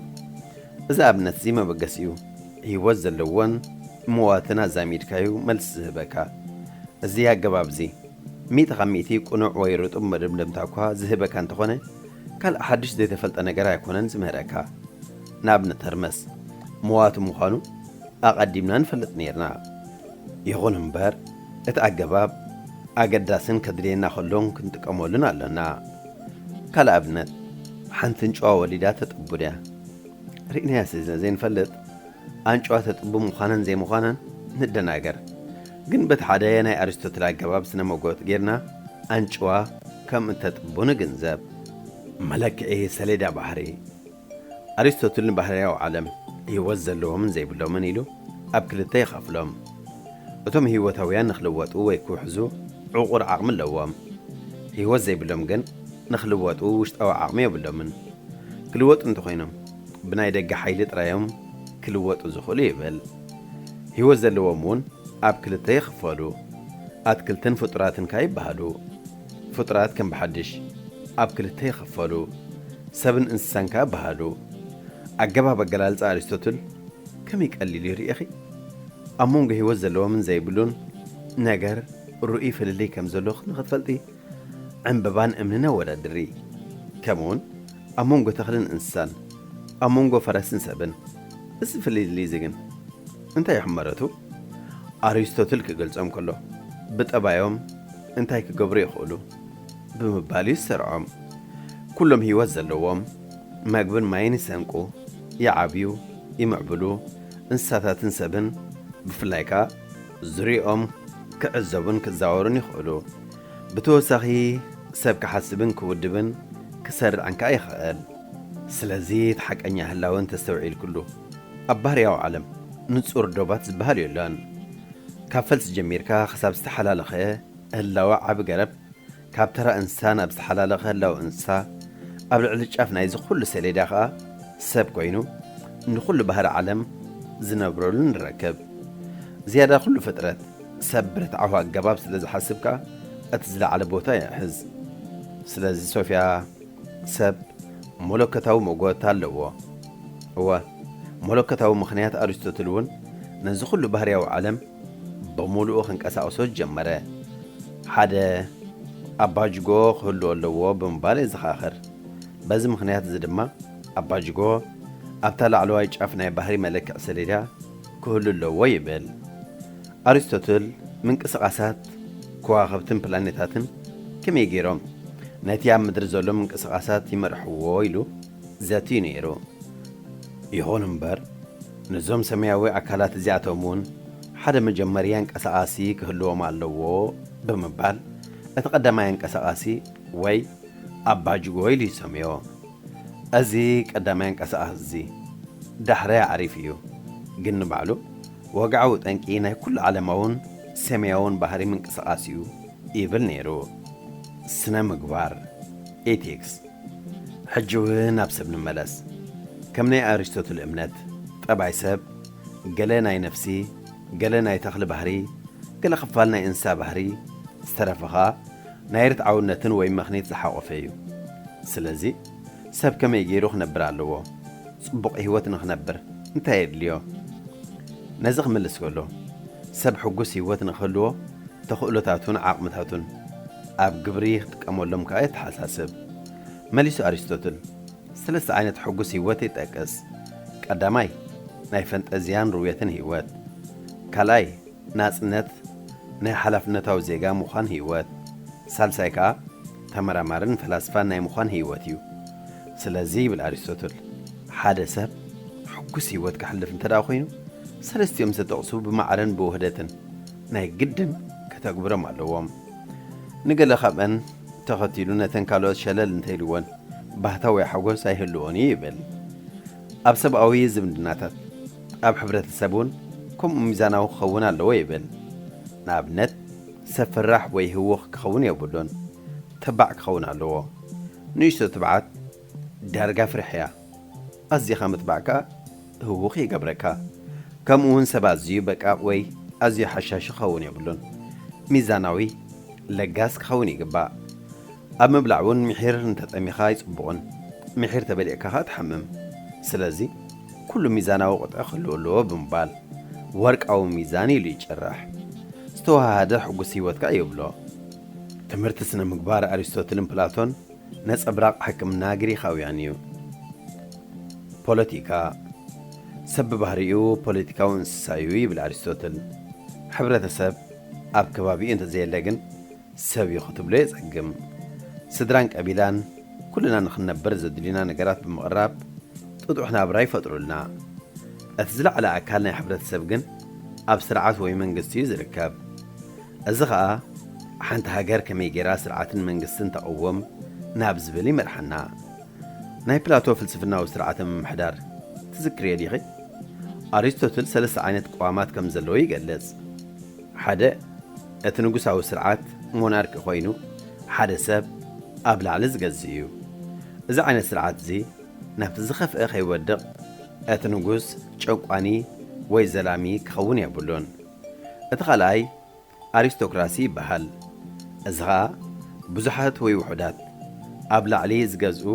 እዚ ኣብነት'ዚ መበገሲ'ዩ። ህይወት ዘለዎን መዋትን ኣዛሚድካ'ዩ መልሲ ዝህበካ። እዚ ኣገባብ'ዚ። ሚእቲ ካብ ሚእቲ ቅኑዕ ወይ ርጡብ መደምደምታ እኳ ዝህበካ እንተኾነ፣ ካልእ ሓድሽ ዘይተፈልጠ ነገር ኣይኮነን ዝምህረካ። ንኣብነት ሀርመስ መዋቲ ምዃኑ ኣቐዲምና ንፈልጥ ኔርና። ይኹን እምበር እቲ ኣገባብ ኣገዳስን ከድልየና ከሎን ክንጥቀመሉን ኣሎና። ካልእ ኣብነት፣ ሓንቲ ኣንጭዋ ወሊዳ ተጥቡ'ድያ? ርኢናያ ስለ ዘይንፈልጥ ኣንጭዋ ተጥቢ ምዃናን ዘይምዃናን ንደናገር። ግን በቲ ሓደ ናይ ኣሪስቶትል ኣገባብ ስነ መጎት ጌርና ኣንጭዋ ከም እተጥቡ ንግንዘብ። መለክዒ ሰሌዳ ባህሪ፣ ኣሪስቶትል ንባህርያዊ ዓለም፣ ህይወት ዘለዎምን ዘይብሎምን ኢሉ ኣብ ክልተ ይኸፍሎም። እቶም ህይወታውያን ንክልወጡ ወይ ክውሕዙ ዕቑር ዓቕሚ ኣለዎም። ህይወት ዘይብሎም ግን ንክልወጡ ውሽጣዊ ዓቕሚ የብሎምን። ክልወጡ እንተኾይኖም ብናይ ደገ ሓይሊ ጥራይ'ዮም ክልወጡ ዝኽእሉ ይብል። ህይወት ዘለዎም እውን ኣብ ክልተ ይኽፈሉ፣ ኣትክልትን ፍጡራትን ከኣ ይበሃሉ። ፍጡራት ከም ብሓድሽ ኣብ ክልተ ይኽፈሉ፣ ሰብን እንስሳን ከኣ ይበሃሉ። ኣገባብ ኣገላልጻ ኣሪስቶትል ከመይ ቀሊል እዩ ርኢኺ? ኣብ መንጎ ህይወት ዘለዎምን ዘይብሉን ነገር ርኡይ ፍልልይ ከም ዘሎ ንኽትፈልጢ፣ ዕምበባን እምንን ኣወዳድሪ። ከምኡውን ኣብ መንጎ ተኽልን እንስሳን፣ ኣብ መንጎ ፈረስን ሰብን እዚ ፍልልይ እዚ ግን እንታይ እዩ ሕመረቱ? ኣሪስቶትል ክገልጾም ከሎ ብጠባዮም እንታይ ክገብሩ ይኽእሉ? ብምባል እዩ ዝሰርዖም። ኩሎም ህይወት ዘለዎም መግብን ማይን ይሰንቁ፣ ይዓብዩ፣ ይምዕብሉ፣ እንስሳታትን ሰብን ብፍላይ ከኣ፣ ዙርያኦም ክዕዘቡን ክዛወሩን ይኽእሉ። ብተወሳኺ ሰብ ክሓስብን ክውድብን ክሰርዕን ከኣ ይኽእል። ስለዚ እቲ ሓቀኛ ህላወ እንተስተውዒልክሉ ኣብ ባህርያዊ ዓለም ንጹር ዶባት ዝበሃል የሎን። ካብ ፈልሲ ጀሚርካ ክሳብ ዝተሓላለኸ ህላወ ዓቢ ገረብ፣ ካብ ተራ እንስሳ ናብ ዝተሓላለኸ ህላወ እንስሳ፣ ኣብ ልዕሊ ጫፍ ናይዚ ኩሉ ሰሌዳ ከኣ ሰብ ኮይኑ ንኹሉ ባህሪ ዓለም ዝነብረሉ ንረከብ። ዝያዳ ኩሉ ፍጥረት ሰብ ብርትዓዊ ኣገባብ ስለ ዝሓስብ ከኣ እቲ ዝለዓለ ቦታ ይሕዝ። ስለዚ ሶፍያ ሰብ መለኮታዊ መጎት ኣለዎ። እወ መለኮታዊ ምኽንያት ኣሪስቶትል እውን ነዚ ኩሉ ባህርያዊ ዓለም ብምሉኡ ክንቀሳቕሶ ጀመረ። ሓደ ኣባጅጎ ክህሉ ኣለዎ ብምባል የዘኻኽር። በዚ ምኽንያት እዚ ድማ ኣባጅጎ ኣብታ ላዕለዋይ ጫፍ ናይ ባህሪ መለክዒ ሰሌዳ ክህሉ ኣለዎ ይብል። ኣሪስቶትል ምንቅስቓሳት ከዋኽብትን ፕላኔታትን ከመይ ገይሮም ነቲ ኣብ ምድሪ ዘሎ ምንቅስቓሳት ይመርሕዎ ኢሉ። ዘትዩ ነይሩ። ይኹን እምበር ነዞም ሰማያዊ ኣካላት እዚኣቶም እውን ሓደ መጀመርያ ኣንቀሳቓሲ ክህልዎም ኣለዎ ብምባል እቲ ቀዳማይ ኣንቀሳቓሲ ወይ ኣባጅጎ ኢሉ ይሰምዮ። እዚ ቀዳማይ ኣንቀሳቓሲ እዚ ዳሕራይ ኣዕሪፉ እዩ ግን ንባዕሉ ወግዓዊ ጠንቂ ናይ ኩሉ ዓለማውን ሰማያውን ባህሪ ምንቅስቓስ እዩ ይብል ነይሩ። ስነ-ምግባር፣ Ethics፣ ሕጂ እውን ናብ ሰብ ንመለስ። ከም ናይ ኣሪስቶትል እምነት፣ ጠባይ ሰብ፣ ገለ ናይ ነፍሲ፣ ገለ ናይ ተኽሊ ባህሪ፣ ገለ ክፋል ናይ እንስሳ ባህሪ፣ ዝተረፈ ከኣ ናይ ርትዓውነትን ወይ ምኽኒት ዝሓቖፈ እዩ። ስለዚ ሰብ ከመይ ገይሩ ክነብር ኣለዎ? ጽቡቕ ህይወት ንክነብር እንታይ የድልዮ? ነዚ ክምልስ ከሎ፣ ሰብ ሕጉስ ህይወት ንክህልዎ ተኽእሎታቱን ዓቕምታቱን፣ ኣብ ግብሪ ክጥቀመሎም ከኣ የተሓሳስብ። መሊሱ ኣሪስቶትል፣ ሰለስተ ዓይነት ሕጉስ ህይወት ይጠቅስ። ቀዳማይ፣ ናይ ፈንጠዝያን ርውየትን ህይወት። ካልኣይ፣ ናጽነት ናይ ሓላፍነታዊ ዜጋ ምዃን ህይወት። ሳልሳይ ከኣ፣ ተመራማርን ፈላስፋን ናይ ምዃን ህይወት እዩ። ስለዚ ይብል ኣሪስቶትል፣ ሓደ ሰብ ሕጉስ ህይወት ከሕልፍ እንተደኣ ኮይኑ፣ ሰለስቲኦም ዝተጠቕሱ ብማዕረን ብውህደትን ናይ ግድን ከተግብሮም ኣለዎም። ንገለ ካብኣን ተኸቲሉ ነተን ካልኦት ሸለል እንተኢልወን ባህታ ወይ ሓጎስ ኣይህልዎን እዩ ይብል። ኣብ ሰብኣዊ ዝምድናታት፣ ኣብ ሕብረተሰብ እውን ከምኡ ሚዛናዊ ክኸውን ኣለዎ ይብል። ንኣብነት፣ ሰብ ፈራሕ ወይ ህዉኽ ክኸውን የብሉን፣ ተባዕ ክኸውን ኣለዎ። ንእሽቶ ትብዓት ዳርጋ ፍርሒ እያ። ኣዚኻ ምጥባዕ ከኣ ህዉኽ ይገብረካ ከምኡ ዉን ሰብ ኣዚዩ በቃቕ ወይ ኣዚዩ ሓሻሺ ክኸዉን የብሉን ሚዛናዊ ለጋስ ክኸዉን ይግባእ ኣብ ምብላዕ ዉን ምሒር እንተጠሚኻ ኣይጽቡቕን ምሒር ተበሊዕካ ከኣ ትሓምም ስለዚ ኩሉ ሚዛናዊ ቁጥዒ ክህልዎ ኣለዎ ብምባል ወርቃዊ ሚዛን ኢሉ ይጭርሕ ዝተወሃሃደ ሕጉስ ሂወት ከኣ ይብሎ ትምህርቲ ስነ ምግባር ኣሪስቶትልን ፕላቶን ነጸብራቕ ሕክምና ግሪኻውያን እዩ። ፖለቲካ፣ ሰብ ብባህሪኡ ፖለቲካዊ እንስሳ እዩ ይብል ኣሪስቶትል። ሕብረተሰብ ኣብ ከባቢኡ እንተዘየለ ግን ሰብ እዩ ክትብሎ የጸግም። ስድራን ቀቢላን ኩልና ንኽንነብር ዘድልዩና ነገራት ብምቕራብ ጥጡሕ ናብራ ይፈጥሩልና። እቲ ዝለዓለ ኣካል ናይ ሕብረተሰብ ግን ኣብ ስርዓት ወይ መንግስቲ እዩ ዝርከብ። እዚ ኸኣ ሓንቲ ሃገር ከመይ ገይራ ስርዓትን መንግስትን ተቕውም ናብ ዝብል ይመርሓና። ናይ ፕላቶ ፍልስፍናዊ ስርዓተ ምምሕዳር ትዝክርዮ ዲኺ? ኣሪስቶትል ሰለስተ ዓይነት ቅዋማት ከም ዘለዎ ይገልጽ። ሓደ እቲ ንጉሳዊ ስርዓት፣ ሞናርኪ፣ ኮይኑ ሓደ ሰብ ኣብ ላዕሊ ዝገዝእ እዩ። እዚ ዓይነት ስርዓት እዚ ናብቲ ዝኸፍኤ ከይወድቕ እቲ ንጉስ ጨቋኒ ወይ ዘላሚ ክኸውን የብሉን። እቲ ካልኣይ ኣሪስቶክራሲ ይበሃል። እዚ ኸኣ ብዙሓት ወይ ውሑዳት ኣብ ላዕሊ ዝገዝኡ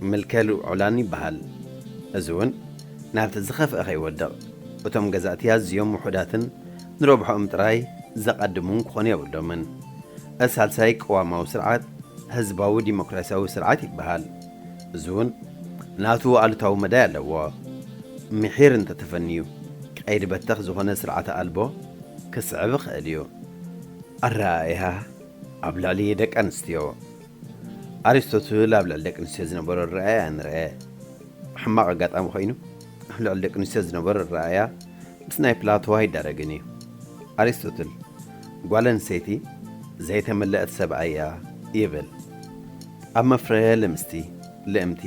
ምልከ ልዑላን ይበሃል። እዚ እውን ናብቲ ዝኸፍኣ ከይወድቕ እቶም ገዛእቲ ኣዝዮም ውሑዳትን ንረብሕኦም ጥራይ ዘቐድሙን ክኾኑ የብሎምን። እቲ ሳልሳይ ቅዋማዊ ስርዓት ህዝባዊ ዲሞክራሲያዊ ስርዓት ይበሃል። እዚ እውን ናቱ ኣሉታዊ መዳይ ኣለዎ። ምሒር እንተተፈንዩ ቀይዲ በተኽ ዝኾነ ስርዓተ ኣልቦ ክስዕብ ይኸእል እዩ። ኣረኣእያ ኣብ ልዕሊ ደቂ ኣንስትዮ። ኣሪስቶትል ኣብ ልዕሊ ደቂ ኣንስትዮ ዝነበሮ ኣረኣእያ ንርኣ። ሕማቕ ኣጋጣሚ ኮይኑ ኣብ ልዕሊ ደቂ ኣንስትዮ ዝነበሮ ኣረኣእያ ምስ ናይ ፕላቶ ኣይዳረግን እዩ። ኣሪስቶትል ጓል ኣንስተይቲ ዘይተመለእት ሰብኣይ እያ ይብል። ኣብ መፍረየ ልምስቲ፣ ልእምቲ፣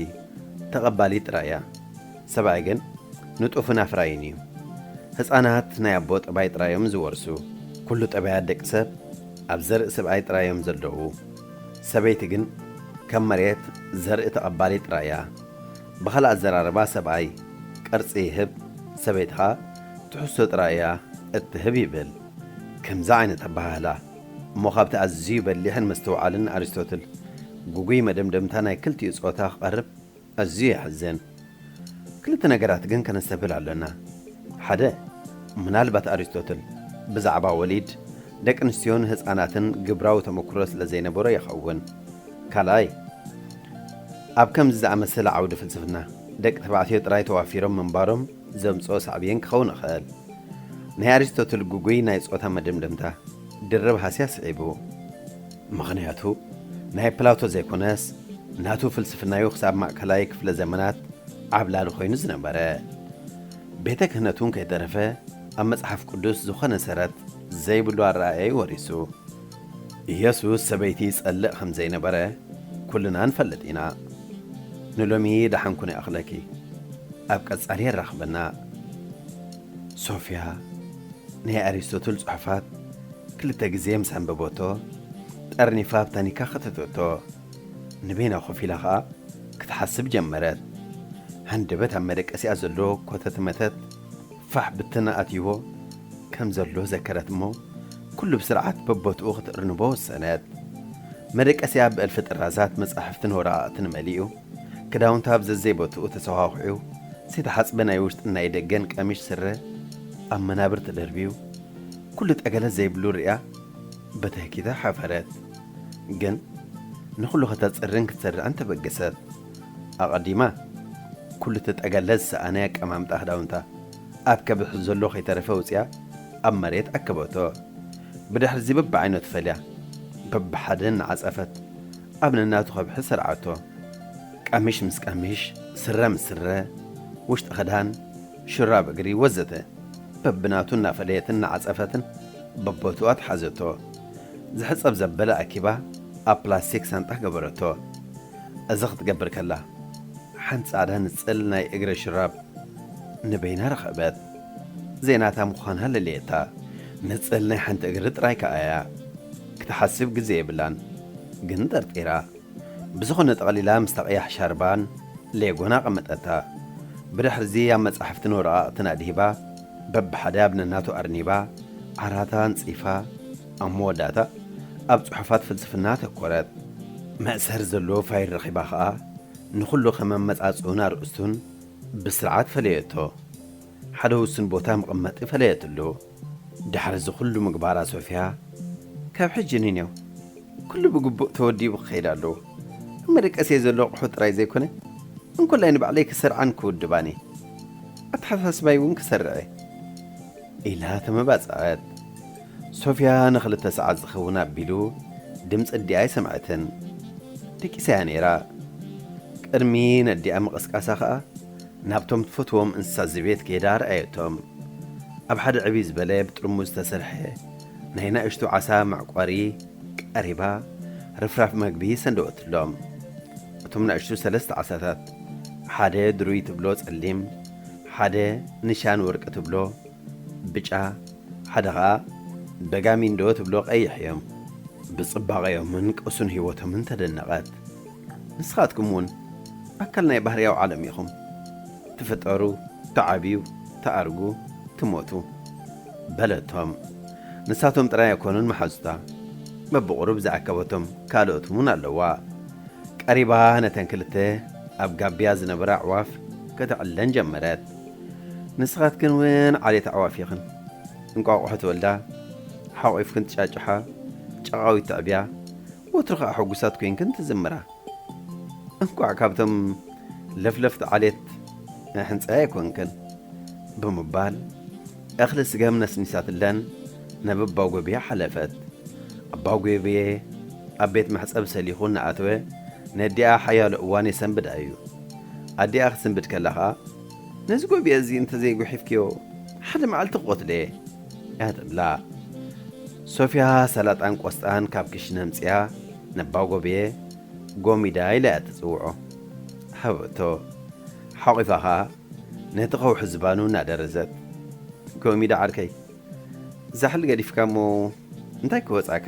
ተቐባሊት ጥራይ እያ። ሰብኣይ ግን ንጡፍን ኣፍራይን እዩ። ህጻናት ናይ ኣቦ ጠባይ ጥራይ እዮም ዝወርሱ። ኩሉ ጠባያት ደቂ ሰብ ኣብ ዘርኢ ስብኣይ ጥራይ እዮም ዘለዉ። ሰበይቲ ግን ከም መሬት ዘርኢ ተቐባሊት ጥራይ እያ። ብኻልእ ኣዘራርባ ሰብኣይ ቅርጺ ይህብ ሰበይቲ ከኣ ትሕዝቶ ጥራይ እያ እትህብ ይብል። ከምዚ ዓይነት ኣበሃህላ። እሞ ካብቲ ኣዝዩ በሊሕን ምስትውዓልን ኣሪስቶትል ግጉይ መደምደምታ ናይ ክልቲኡ ጾታ ክቐርብ ኣዝዩ የሕዝን። ክልተ ነገራት ግን ከነስተብህል ኣሎና። ሓደ፣ ምናልባት ኣሪስቶትል ብዛዕባ ወሊድ፣ ደቂንስትዮን ህጻናትን ግብራዊ ተመኩሮ ስለ ዘይነበሮ ይኸውን። ካልኣይ፣ ኣብ ከምዚ ዝኣመሰለ ዓውዲ ፍልስፍና፣ ደቂ ተባዕትዮ ጥራይ ተዋፊሮም ምንባሮም፣ ዘምጽኦ ሳዕቤን ክኸውን ይኽእል። ናይ ኣሪስቶትል ግጉይ ናይ ጾታ መደምደምታ ድርብ ሃስያ ስዒቡ። ምኽንያቱ ናይ ፕላቶ ዘይኮነስ ናቱ ፍልስፍናዩ ክሳብ ማእከላይ ክፍለ ዘመናት ዓብላሊ ኮይኑ ዝነበረ። ቤተ ክህነትውን ከይተረፈ ኣብ መጽሓፍ ቅዱስ ዝኾነ ሰረት ዘይብሉ ኣረኣእያዩ ወሪሱ። ኢየሱስ ሰበይቲ ይጸልእ ከም ዘይነበረ ኩልና ንፈልጥ ኢና። ንሎሚ ደሓን ኩኒ እኽለኪ ኣብ ቀጻሊ የራኽበና። ሶፍያ ናይ ኣሪስቶትል ጽሑፋት ክልተ ግዜ ምስ ኣንበበቶ ጠርኒፋ ኣብ ታኒካ ከተተቶ። ንበይና ኮፍ ኢላ ከኣ ክትሓስብ ጀመረት። ሃንደበት ኣብ መደቀሲኣ ዘሎ ኮተትመተት ፋሕ ብትን ኣትይዎ። ከም ዘሎ ዘከረት እሞ ኩሉ ብስርዓት በቦትኡ ክትእርንቦ ወሰነት። መደቀሲኣ ብእልፊ ጥራዛት መጻሕፍትን ወረቓቕትን መሊኡ፣ ክዳውንታ ኣብ ዘዘይቦትኡ ተሰዃዂዑ፣ ዘይተሓጽበ ናይ ውሽጥን ናይ ደገን ቀሚሽ ስረ ኣብ መናብር ተደርብዩ፣ ኩሉ ጠገለ ዘይብሉ ርእያ በተህኪታ ሓፈረት። ግን ንኹሉ ከተጽርን ክትሰርዕን ተበገሰት። ኣቐዲማ ኩሉ'ቲ ጠገለ ዝሰኣነ ኣቀማምጣ ክዳውንታ፣ ኣብ ከብሕ ዘሎ ከይተረፈ ኣውጺኣ ኣብ መሬት ኣከበቶ። ብድሕርዚ በብዓይነቱ ፈልያ በብሓደ እናዓጸፈት ኣብ ነናቱ ከብሒ ሰርዓቶ። ቀሚሽ ምስ ቀሚሽ፣ ስረ ምስ ስረ፣ ውሽጢ ክዳን፣ ሹራብ እግሪ ወዘተ በብናቱ እናፈለየትን እናዓጸፈትን በቦትኡ ኣትሓዘቶ። ዝሕጸብ ዘበለ ኣኪባ ኣብ ፕላስቲክ ሳንጣ ገበረቶ። እዚ ክትገብር ከላ፣ ሓንቲ ጻዕዳ ንጽል ናይ እግረ ሽራብ ንበይና ረኸበት። ዘይናታ ምዃና ለለየታ። ንጽል ናይ ሓንቲ እግሪ ጥራይ ከኣ እያ። ክትሓስብ ግዜ የብላን። ግን ጠርጢራ። ብዝኾነ ጠቕሊላ ምስታ ቀያሕ ሻርባን ሌጎን ኣቐመጠታ። ብድሕርዚ ኣብ መጻሕፍትን ወረቓቕትን ኣድሂባ፣ በብሓደ ኣብ ነናቱ ኣርኒባ፣ ዓራታ ኣንጺፋ፣ ኣብ መወዳእታ ኣብ ጽሑፋት ፍልስፍና ኣተኮረት። መእሰሪ ዘለዎ ፋይል ረኺባ ከኣ ንኹሉ ከም ኣመጻጽእኡን ኣርእስቱን ብስርዓት ፈለየቶ። ሓደ ውሱን ቦታ መቐመጢ ፈለየትሉ። ድሕሪ እዚ ኩሉ ምግባራ ሶፍያ ካብ ሕጂ ንኔው ኩሉ ብግቡእ ተወዲቡ ክኸይድ ኣለዎ። ኣብ መደቀሲየይ ዘሎ ኣቑሑት ጥራይ ዘይኮነ እንኮላይ ንባዕለይ ክሰርዓን ክውድባን እየ። ኣተሓሳስባይ እውን ክሰርዕ'የ። ኢላ ተመባጽዐት። ሶፍያ ንኽልተ ሰዓት ዝኸውን ኣቢሉ ድምጺ ኣዲኣ ኣይሰምዐትን። ደቂሳ'ያ ነይራ። ቅድሚ ነዲኣ ምቕስቃሳ ከኣ ናብቶም ትፈትዎም እንስሳ ዘቤት ከይዳ ረኣየቶም። ኣብ ሓደ ዕብይ ዝበለ ብጥርሙዝ ዝተሰርሐ ናይ ናእሽቱ ዓሳ መዕቆሪ ቀሪባ ርፍራፍ መግቢ ሰንደወትሎም። እቶም ናእሽቱ ሰለስተ ዓሳታት፣ ሓደ ድሩይ ትብሎ ጸሊም፣ ሓደ ንሻን ወርቂ ትብሎ፣ ብጫ ሓደ ከኣ ደጋሚ እንዶ ትብሎ ቀይሕ እዮም። ብጽባቐዮምን ቅሱን ህይወቶምን ተደነቐት። ንስኻትኩም እውን ኣካል ናይ ባህርያዊ ዓለም ኢኹም። ትፍጠሩ፣ ትዓብዩ፣ ትኣርጉ፣ ትሞቱ። በለቶም። ንሳቶም ጥራይ ኣይኮኑን መሓዙታ። በብቑሩብ ዝኣከበቶም ካልኦት እውን ኣለዋ። ቀሪባ ነተን ክልተ ኣብ ጋብያ ዝነበራ ኣዕዋፍ ከተዕለን ጀመረት። ንስኻትክን ውን ዓሌት ኣዕዋፍ ኢኽን። እንቋቑሖ ትወልዳ፣ ሓቝፍክን ትጫጭሓ፣ ጨቓዊት ተዕብያ፣ ወትሩ ኸኣ ሕጉሳት ኮይንክን ትዝምራ። እንቋዕ ካብቶም ለፍለፍቲ ዓሌት ናይ ሕንጻይ ኣይኮንክን። ብምባል እኽሊ ስገም ነስኒሳትለን ናብ ኣባጐብየ ሓለፈት። ኣባጐብየ ኣብ ቤት መሕጸቢ ሰሊኹ እናኣተወ ነዲኣ ሓያሎ እዋን የሰንብዳ እዩ። ኣዲኣ ክትስንብድ ከላ ኸኣ፣ ነዚ ጎብየ እዚ እንተ ዘይጉሒፍክዮ ሓደ መዓልቲ ክቆትሎ'የ እያ ትብላ። ሶፍያ ሰላጣን ቆስጣን ካብ ክሽነ ኣምጺኣ ነባ ጎብየ ጎሚዳ ኢላ'ያ ትጽውዖ። ሃበቶ። ሓቂፋ ከኣ ነቲ ከውሒ ዝባኑ እናደረዘት ጎሚዳ ዓርከይ ዛሕሊ ገዲፍካ'ሞ እንታይ ክወጽኣካ?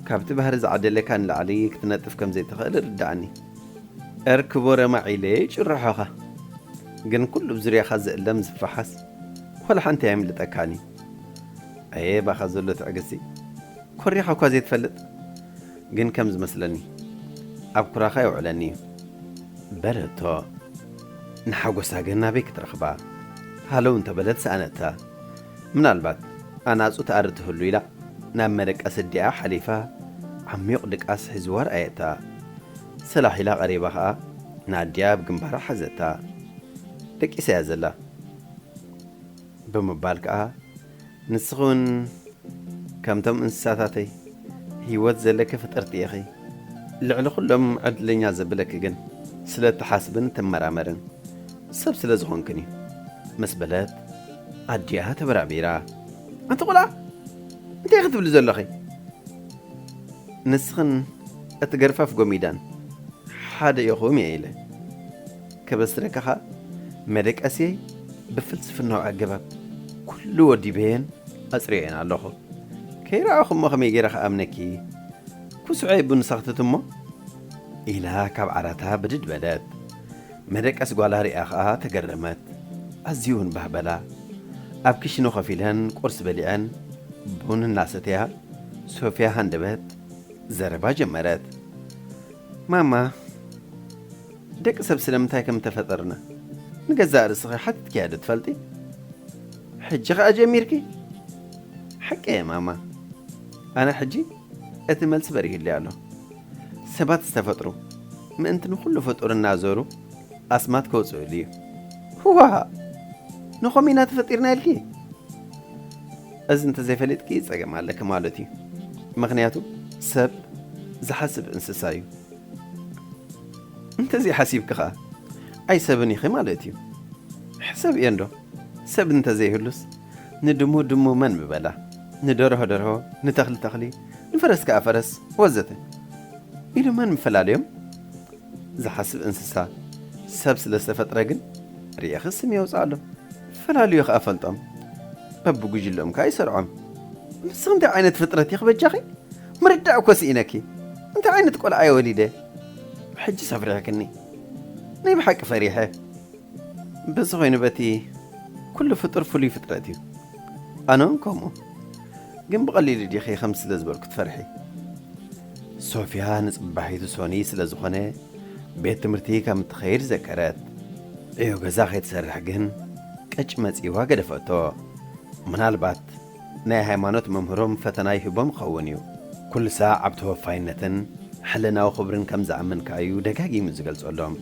ካብቲ ባህሪ ዝዓደለካ ንላዕሊ ክትነጥፍ ከም ዘይትኽእል ርድኣኒ። እር ክቡረ ማዒለይ ጭርሖኻ ግን ኩሉ ብ ዙርያኻ ዝእለም ዝፋሓስ ዋላ ሓንቲ ኣየምልጠካን እዩ ኣየ ባኻ ዘሎ ትዕግስቲ ኮሪኻ እኳ ዘይትፈልጥ ግን ከም ዝመስለኒ ኣብ ኩራኻ የውዕለኒ እዩ በለቶ ንሓጎሳ ግን ናበይ ክትረኽባ ሃለው እንተበለት ሰኣነታ ምናልባት ኣናጹ ትኣሪ ትህሉ ኢላ ናብ መደቀሲ ኣዲኣ ሓሊፋ ዓሚዩቕ ድቃስ ሒዝዋ ረኣየታ። ሰላሕ ኢላ ቀሪባ ከኣ ንኣዲኣ ኣብ ግንባራ ሓዘታ። ደቂሳ'ያ ዘላ። ብምባል ከኣ ንስኺ'ውን ከምቶም እንስሳታተይ ህይወት ዘለኪ ፍጥርቲ ኢኺ። ልዕሊ ኩሎም ዕድለኛ ዘብለኪ ግን ስለ እትሓስብን እትመራመርን፣ ሰብ ስለ ዝኾንክን እዩ ምስ በለት ኣዲኣ ተበራቢራ ኣንቲ ቆልዓ እንታይ ክትብሊ ዘለኺ ንስኽን እቲ ገርፋፍ ጎሚዳን ሓደ ኢኹም እየ ኢለ ከበስረካ ኸኣ መደቀስየይ ብፍልስፍናዊ ኣገባብ ኩሉ ወዲበየን ኣጽሪየን ኣለኹ ከይረኣኹ እሞ ከመይ ገይረ ክኣምነኪ ኩስዐይ ቡን ሰኽትት እሞ ኢላ ካብ ዓራታ ብድድ በለት መደቀስ ጓላ ርእያ ከኣ ተገረመት። ኣዝዩ'ውን ባህ በላ። ኣብ ክሽነ ኮፍ ኢለን ቁርሲ በሊዐን ቡን እናሰተያ ሶፍያ ሃንደበት ዘረባ ጀመረት። ማማ ደቂ ሰብ ስለምንታይ ከም እተፈጠርና ንገዛእ ርእስኺ ሓቲትክያ'ዶ ትፈልጢ? ሕጂ ከኣ ጀሚርኪ? ሓቀየ ማማ ኣነ ሕጂ እቲ መልሲ በሪሁለይ ኣሎ። ሰባት ዝተፈጥሩ ምእንቲ ንኹሉ ፍጡር እናዘሩ ኣስማት ከውጽእሉ እዩ። ዋእ! ንኸምኡ ኢና ተፈጢርና ኢልኪ? እዚ እንተዘይፈሊጥኪ ጸገም ኣለኪ ማለት እዩ። ምኽንያቱ ሰብ ዝሓስብ እንስሳ እዩ። እንተዘይሓሲብኪ ከኣ ኣይሰብን ኢኺ ማለት እዩ። ሕሰብዮ እንዶ ሰብ እንተዘይህሉስ? ንድሙ ድሙ መን ምበላ፣ ንደርሆ ደርሆ፣ ንተኽሊ ተኽሊ፣ ንፈረስ ከኣ ፈረስ ወዘተ ኢሉ መን ምፈላለዮም? ዝሓስብ እንስሳ ሰብ ስለ ዝተፈጥረ ግን ርኢኺ ስም የውጽኣሎም፣ ፈላልዩ ከኣ ፈልጦም፣ በብጉጅለኦም ከኣ ይሰርዖም። ንስኺ እንታይ ዓይነት ፍጥረት ኢኺ በጃኺ? ምርዳእ እኮ ስኢነኪ፣ እንታይ ዓይነት ቆልዓ'የ ወሊደ? ሕጂስ ኣፍሪሕክኒ፣ ናይ ብሓቂ ፈሪሐ። እንተዝኾይኑ በቲ ኩሉ ፍጡር ፍሉይ ፍጥረት እዩ ኣነ ውን ከምኡ ግን ብቐሊሉ ዲኺ ከምዚ ስለ ዝበልኩ ትፈርሒ ሶፍያ ንጽባሒቱ ሶኒ ስለ ዝኾነ ቤት ትምህርቲ ከም እትኸይድ ዘከረት ዕዮ ገዛ ከይትሰርሕ ግን ቀጭ መጺዋ ገደፈቶ ምናልባት ናይ ሃይማኖት መምህሮም ፈተና ይህቦም ይኸውን እዩ። ኩሉ ሳዕ ኣብ ተወፋይነትን ሕልናዊ ክብርን ከም ዝኣምን ከኣ እዩ ደጋጊሙ ዝገልጸሎም።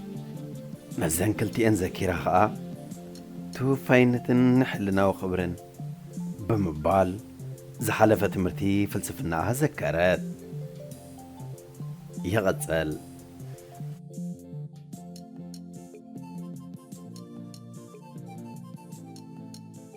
ነዘን ክልቲኤን ዘኪራ ከኣ ተወፋይነትን ሕልናዊ ክብርን ብምባል ዝሓለፈ ትምህርቲ ፍልስፍናኣ ዘከረት። ይቕጽል።